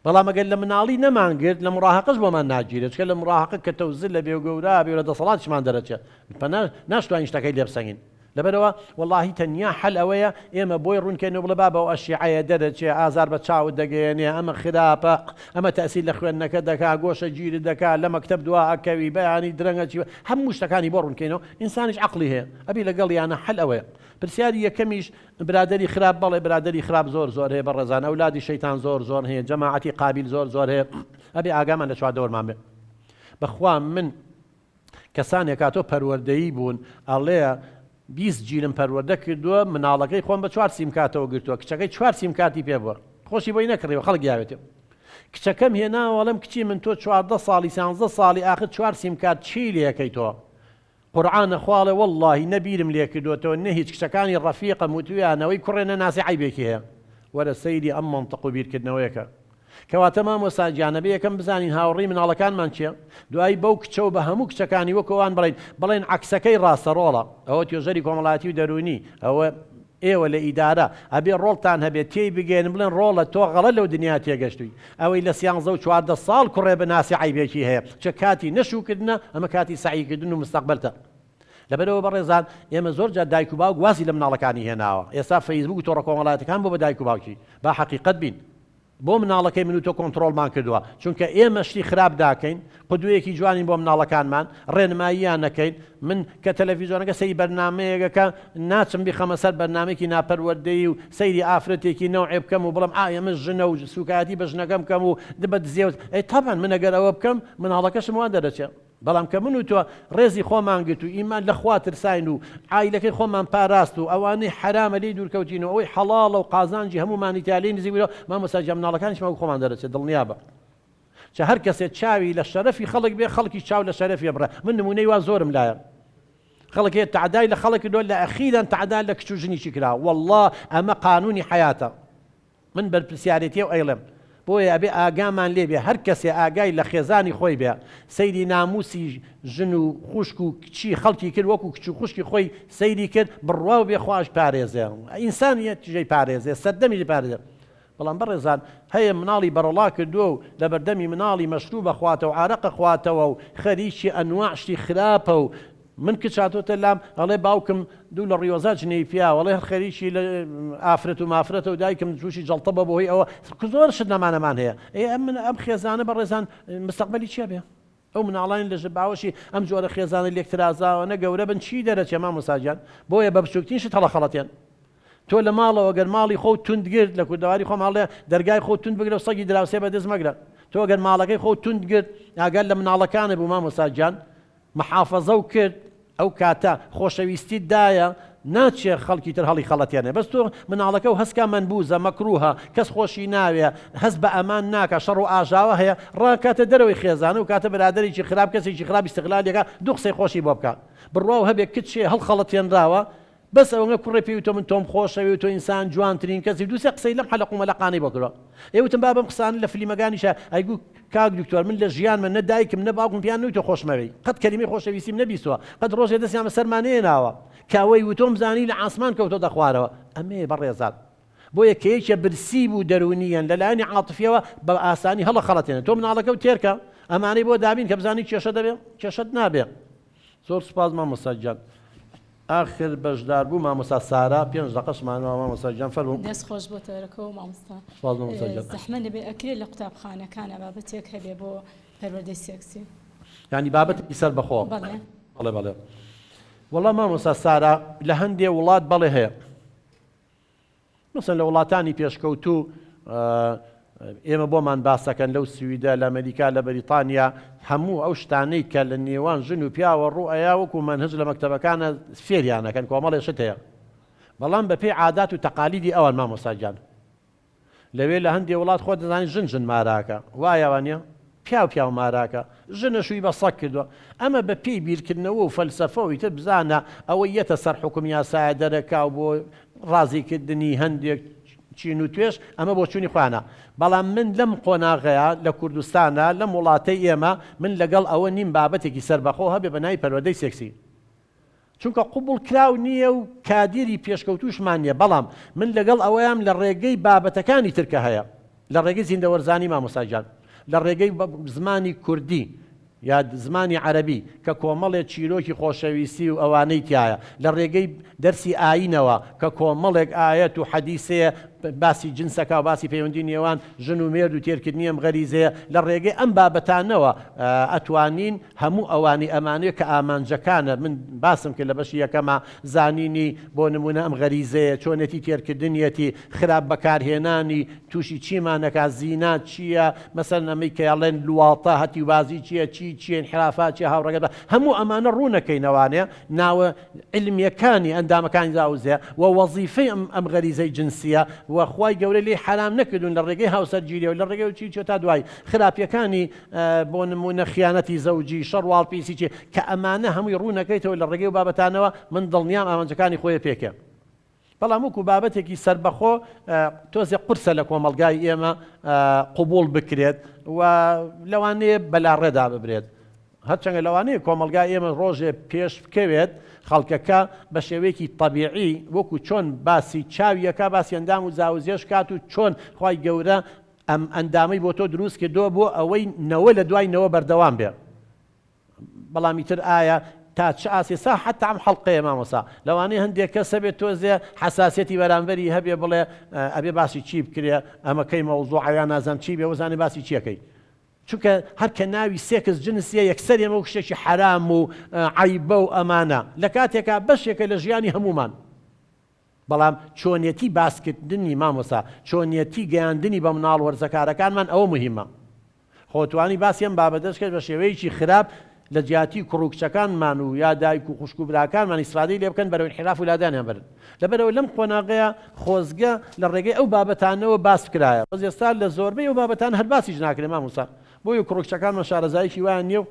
بەڵام ئەگەر لە مناڵی نەمانگرت لە مڕاهەقەش بۆمان ناگیرێت چکە لە مڕاهەقە کەتە و زلە بێ و گەورە بێ و لە دەسەڵاتیشمان دەرەچێت پەنا ناشتوانین شتەکەی لێ بسەنگین لەبەرەوە وەڵاهی تەنیا حەل ئەوەیە ئێمە بۆی ڕوونکەین و بڵێ بابە ئەو ئەشیعەیە دەرەچێ ئازار بە چاوت دەگەیەنێ ئەمە خراپە ئەمە تەئسیر لە خوێندنەکەت دەکا گۆشەگیرت دەکا لە مەکتەب دوا ئەکەوی بەیانی درەنگ ئەچی هەموو شتەکانی بۆ ڕوونکەینەوە ئینسانیش عەقڵی هەیە ئەبی لەگەڵیانا حەل ئەوەیە پرسیاری یەکەمیش برادەری خراپ بەڵێ برادەری خراپ زۆر زۆر هەیە بەڕێزان ئەولادی شەیتان زۆر زۆر هەیە جەماعەتی قابیل زۆر زۆر هەیە ئەبێ ئاگامان لە چواردەوەرمان بێ بەخوا من کەسانێکا تۆ پەروەردەیی بوون ئەڵێ بیست جیلم پەروەردە کردووە مناڵەکەی خۆم بە چوار سیمکاتەوە گرتووە کچەکەی چوار سیمکاتی پێ بووە خۆشی بۆی نەکڕیەوە خەڵک یاوێتێ کچەکەم هێناوەڵم کچی من تۆ چواردە ساڵی سانزە ساڵی ئاخر چوار سیمکات چی لەکەی تۆ قورعانە خواڵێ وەڵاهی نە بیرم لێ کردۆتەوە نە هیچ کچەکانی ڕەفیقم وتویان ئەوەی کوڕێ نەناسی عەیبێکی هەیە وەرە سەیری ئەم مەنتق و بیرکردنەوەیەکە کەواتە مامۆستا گیان ئەبێ یەکەم بزانین هاوڕی مناڵەکانمان کێ دوایی بەو کچە و بە هەموو کچەکانی وەک ئەوان بڵێین بڵێن عەکسەکەی ڕاستە ڕۆڵە ئەوە توێژەری کۆمەڵایەتی و دەروونی ئەوە ئێوە لە ئیدارە ئەبێ ڕۆڵتان هەبێ تێی بگەیەنن بڵێن ڕۆڵە تۆ غەڵەت لەو دنیا تێگەشتووی ئەوەی لە سیانزە و چواردە ساڵ کوڕێ بناسی عەیبێکی هەیە چ کاتی نە شووکردنە ئەمە کاتی سەعی کردن و مستەقبەلتە لەبەرەوە بەڕێزان ئێمە زۆر جار دایک و باوک وازی لە مناڵەکانی هێناوە ئێستا فەیسبووک و تۆڕە کۆمەڵایەتەکان بۆ بە دایک و باوکی با حەقیقەت بین. بۆ مناڵەکەی من و تۆ کۆنتڕۆڵمان کردووە چونکە ئێمە شتی خراپ داکەین قدوەیەکی جوانین بۆ مناڵەکانمان ڕێنماییان نەکەین من کە تەلەفیزۆنەکە سەیری بەرنامەیەگەکە ناچم بیخەمە سەر بەرنامەیەکی ناپەروەردەیی و سەیری ئافرەتێکی نەوعێ بکەم و بڵێم ئا ئێمە ژنە و سوکایەتی بە ژنەکەم کەم و دبە دزێوت ئەی تەبعەن من ئەگەر ئەوە بکەم مناڵەکەشم وا دەرەچێ بەڵام کە من و تۆ ڕێزی خۆمان گرت و ئیمان لە خوا ترساین و عایلەکەی خۆمان پاراست و ئەوانەی حەرامە لێی دوورکەوتین و ئەوەی حەڵاڵە و قازانجی هەموومانی تیا لێی نزیک بووینەوە مامۆستا گیان مناڵەکانیشمان وەک خۆمان دەرەچێت دڵنیابە چ هەر کەسێ چاوی لە شەرەفی خەڵک بێ خەڵکی چاو لە شەرەفی بڕە من نمونەی وا زۆرم لایە خەڵک هەیە تعدای لە خەڵک دۆ لە ئەخیران تعدا لە کچ و ژنیشی کرا والله ئەمە قانونی حیاتە من بەرپرسیارێتیەو ئەیڵێم بۆیە ئەبێ ئاگامان لێ بێ هەر کەسێ ئاگای لە خێزانی خۆی بێ سەیری ناموسی ژن و خوشک و کچی خەڵکی کرد وەکو کچ و خوشکی خۆی سەیری کرد بڕواو بێ خواش پارێزێ ئینسانیەتیشی پارێزێ سەردەمیشی پارێزێ بەڵام بەڕێزان هەیە مناڵی بەڕەڵا کردوە و لەبەردەمی مناڵی مەشروب ئەخواتەو عارەق ئەخواتەوە و خەریکی ئەنواع شتی خراپە و من کچ هاتۆتە لام ئەڵێ باوکم دوو لە ڕیۆزا جنێوی پیاوە ئەڵێ هەر خەریکی لە ئافرەت و مافرەتە و دایکم تووشی جەڵتە بە بەهۆی ئەوە کە زۆر شت نەمانەمان هەیە ئێ ئەم من ئەم خێزانە بەڕێزان مستەقبەلی چی ئەبێ ئەو مناڵانی لە ژە باوەشی ئەم جۆرە خێزانە لێکترازاوانە گەورە بن چی دەرەچێ مامۆستا گیان بۆیە بە بچووکترین شت هەڵەخەڵەتێن تۆ لە ماڵەوە گەر ماڵی خۆ توند گرت لە کوردەواری خۆم هەڵێ دەرگای خۆ توند بگرە و سەگی دراوسێ بەدەست مەگرە تۆ گەر ماڵەکەی خۆ توند گرت ئاگەر لە مناڵەکانە بوو مامۆستا گیان محافەزە و کرد ئەو کاتە خۆشەویستیت دایە ناچێ خەڵکی تر هەڵی خەڵەتێنێ بەس تۆ مناڵەکە و هەسکا مەنبوزە مەکروهە کەس خۆشی ناوێ هەست بە ئەمان ناکا شەڕ و ئاژاوە هەیە ڕاکاتە دەرەوەی خێزان ئەو کاتە برادەرێکی خراپ کەسێکی خراپ ئیستغلالی کە دوو قسەی خۆشی بۆ بکا بڕواو هەبێ کچێ هەڵخەڵەتێنراوە بەس ئەوەنە کوڕێ پێی وتم من تۆم خۆشەوێ و تۆ ئینسان جوانترین کەسی دوو سێ قسەی لەم حەلەق و مەلەقانەی بۆ کردوە ئێ وتم با بەم قسانە لە فلیمەگانیشا ئەیگوو کاک دکتۆر من لە ژیانمە نە دایکم نە باوکم پێیان نەوتوە خۆشمەوێی قەت کەلیمەی خۆشەویستیم نەبیستوە قەت ڕۆژێ دەستیان بە سەرما نەیەناوە کە وەی وتۆم زانی لە عاسمان کەوتۆتە خوارەوە ئەمەیە بەڕێزان بۆیە کە یەکێ برسی بوو دەرونیەن لە لایەنی عاتفیەوە بە ئاسانی هەڵەخەڵەتێنێ تۆ مناڵەکەو تێرکە ئەمانەی بۆ دابین کە بزانی کێشە دەبێ کێشەت نابێ. زۆر سوپاس مامۆستا گیان ئاخر بەژدار بوو مامۆستا سارا پێنج دەقەش مانەوە مامۆستا گیان فەرموو. دەست خۆش بۆ تەرەکەوە مامۆستا سوپاس مامۆستا گیان زەحمەت نەبێ ئەکرێ لە قوتابخانەکانا بابەتێک هەبێ بۆ پەروەردەی سێکسی یانی بابەتێکی سەر بەخۆ بەڵێ بەڵێ بەڵێ وەڵا مامۆستا سارا لە هەندێ وڵات بەڵێ هەیە. مەسەن لە وڵاتانی پێشکەوتوو ئێمە بۆمان باسەکەن لەو سویدە لە ئەمەریکا لە بەریتانیا هەموو ئەو شتانەی کە لە نێوان ژن و پیاوە ڕوو ئەیا وەکو مەنهج لە مەکتەبەکانە فێریانەکەن کۆمەڵێ شت هەیە بەڵام بەپێی عادات و تەقالیدی ئەوان مامۆستا گیان لەوێ لە هەندێ وڵات خۆت دەزانی ژن ژن ماراکە وایە وانیە؟ پیاو پیاو ماراکە ژنە شووی بە سەگ کردوە ئەمە بە پێی بیرکردنەوە و فەلسەفە و ئیتر بزانە ئەوە یەتە سەر حوکم یاسایە دەرەکاو بۆ ڕازی کردنی هەندێک چین و توێژ ئەمە بۆ چونی خۆیانە بەڵام من لەم قۆناغەیە لە کوردستانا لەم وڵاتەی ئێمە من لەگەڵ ئەوە نیم بابەتێکی سەربەخۆ هەبێ بە ناوی پەروەدەی سێکسی چونکە قبوڵ کراو نییە و کادیری پێشکەوتووشمان نییە، بەڵام من لەگەڵ ئەوەیام لە ڕێگەی بابەتەکانی تر کە هەیە، لە ڕێگەی زیندەوەرزانی مامۆستا گیان، لە ڕێگەی زمانی کوردی یا زمانی عەرەبی کە کۆمەڵێ چیرۆکی خۆشەویستی و ئەوانەی تیایە، لە ڕێگەی دەرسی ئایینەوە کە کۆمەڵێک ئایەت و حەدیسێ باسی جنس ئەکا و باسی پەیوەندی نێوان ژن و مێرد و تێرکردنی ئەم غەریزەیە، لە ڕێگەی ئەم بابەتانەوە ئەتوانین هەموو ئەوانی ئەمانێ کە ئامانجەکانە من باسم کرد لە بەشی یەکەما زانینی بۆ نموونە ئەم غەریزەیە چۆنێتی تێرکردنیەتی خراپ بەکارهێنانی تووشی چیمان ئەکات زینا چییە مەسەلەن ئەمەی کە ئەڵێن لواطە هەتیوبازی چییە چی چییە ئینحرافات چییە هاوڕێگەت بە هەموو ئەمانە ڕوو نەکەینەوانێ ناوە عیلمیەکانی ئەندامەکانی داوزێ وە وەزیفەی ئەم ئەم غەریزەی جنسییە وە خوای گەورە لێی حەرام نەکردوون لە ڕێگەی هاوسەرگیریەوە لە ڕێگەی چی چۆ تا دوایی خراپیەکانی بۆ نموونە خیانەتی زەوجی، شەڕ و ئاڵپیسی چی، کە ئەمانە هەمووی ڕوون ئەکەیتەوە لە ڕێگەی ئەو بابەتانەوە، من دڵنیام ئامانجەکانی خۆی پێکێ. بەڵام وەکوو بابەتێکی سەربەخۆ تۆزێ قورسە لە کۆمەڵگای ئێمە قبووڵ بکرێت و لەوانەیە بەلاڕێدا ببرێت. هەرچەندە لەوانەیە کۆمەڵگای ئێمە ڕۆژێ پێش بکەوێت خەڵکەکە بە شێوەیەکی تەبیعی وەکوو چۆن باسی چاوی ئەکا باسی ئەندام و زاوزێش کات و چۆن خوای گەورە ئەم ئەندامەی بۆ تۆ دروست کردووە بۆ ئەوەی نەوە لە دوای نەوە بەردەوام بێ بەڵام ئیتر ئایا تا چ ئاستی سا حتا ئەم حەڵقەیە مامۆسا لەوانەیە هەندێک کەس هەبێت تۆزێ حەساسیەتی بەرامبەری هەبێ بڵێ ئەبێ باسی چی بکرێ ئەمە کەی مەوزوعە یان نازانم چی بێ وەزانێ باسی چیەکەی چونکە هەر کە ناوی سێکس جنسیە یەکسەر ئێمە وەک شتێکی حەرام و عەیبە و ئەمانە لە کاتێکا بەشێکە لە ژیانی هەمومان بەڵام چۆنێتی باسکردنی مامۆستا چۆنێتی گەیاندنی بە مناڵ وەرزەکارەکانمان ئەوە موهیمە خۆ توانی باسی ئەم بابەتەش کرد بە شێوەیەکی خراپ لە جیاتی کوڕ و کچەکانمان و یا دایک و خوشک و براکانمان ئیسفادەی لێ بکەن بەرەو ئینحیراف و لادانیان بەرن لەبەرئەوە لەم قۆناغەیە خۆزگە لە ڕێگەی ئەو بابەتانەوە باس بکرایە بەس ئێستا لە زۆربەی ئەو بابەتان هەر باسیش ناکرێ مامۆستا بۆیە کوڕ و کچەکانمان شارەزاییەکی وایان نییە و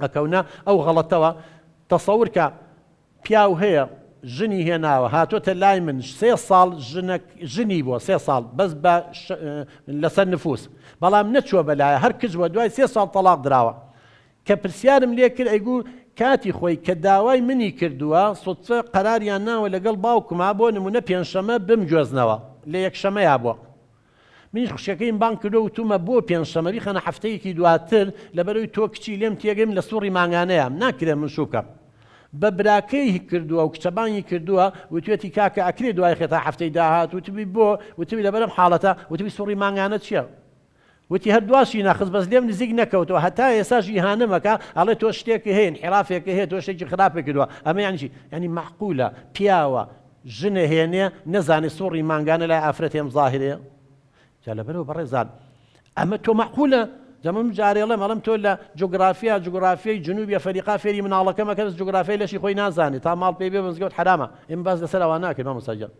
ئەکەونە ئەو غەڵەتەوە تەسەور کە پیاو هەیە ژنی هێناوە هاتۆتە لای من سێ ساڵ ژنەک ژنی بووە سێ ساڵ بەس بە لەسەر نفوس بەڵام نەچووە بەلایە هەر کچ بووە دوای سێ ساڵ تەڵاق دراوە کە پرسیارم لێ کرد ئەیگو کاتی خۆی کە داوای منی کردووە سوتفە قەراریان ناوە لەگەڵ باوکما بۆ نموونە پێنجشەمە بمگوێزنەوە لە یەکشەمەیا بووە منیش خوشکەکەیم بانگ کردو وتومە بۆ پێنج شەمە بیخەنە هەفتەیەکی دواتر لەبەرەوەی تۆ کچی لێم تێگەی من لە سوڕی مانگانەیام ناکرێ من شوکەم بە براکەی کردوە و کچە بانگی کردوە وتوێتی کاکە ئەکرێ دوای خێ تا هەفتەی داهات وتبی بۆ وتبی لەبەرم حاڵەتە وتبی سوڕی مانگانە چیە وتی هەر دواشی نەخست بەس لێم نزیک نەکەوتەوە هەتا ئێساش ئیهانەم ئەکا ئەڵێ تۆ شتێکی هەیە ئینحیرافێکی هەیە تۆ شتێکی خراپی کردوە ئەمە یانی چی یانی مەعقولە پیاوە ژنێ هێنێ نەزانێ سوڕی مانگانە لای ئافرەت هێم زاهرێ جا لەبەرئەوە بەڕێزان ئەمە تۆ مەعقولە جا من جارێ ئەڵێم ئەڵێم تۆ لە جوگرافیا جوگرافیای جنوبی ئەفەریقا فێری مناڵەکە مەکە بەس جوگرافیای لەشی خۆی نازانێ تا ماڵ پێی بێ بە مزگەوت حەرامە ئێمە باس لەسەر ئەوە ناکەین مامۆستا گیان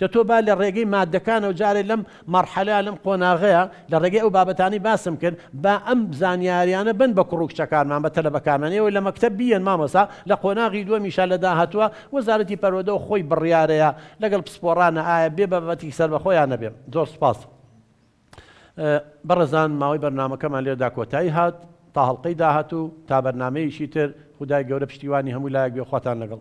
دە تۆ با لە ڕێگەی مادەکانەوە جارێ لەم مەرحەلە لەم قۆناغەیە لە ڕێگەی ئەو بابەتانەی باسم کرد با ئەم زانیاریانە بەن بە کوڕ و کچەکانمان بە تەلەبەکانمان ئێوە لە مەکتەب بیێن مامۆستا لە قۆناغی دووەمیشا لە داهاتووە وەزارەتی پەروەدەو خۆی بڕیارەیە لەگەڵ پسپۆڕانە ئایا بێ بابەتێکی سەربەخۆ یان نەبێ زۆر سوپاس بەڕێزان ماوەی بەرنامەکەمان لێرەدا کۆتایی هات تا هەڵقەی داهاتوو تا بەرنامەیەکی تر خودای گەورە پشتیوانی هەموو لایەک بێ خواتان لەگەڵ.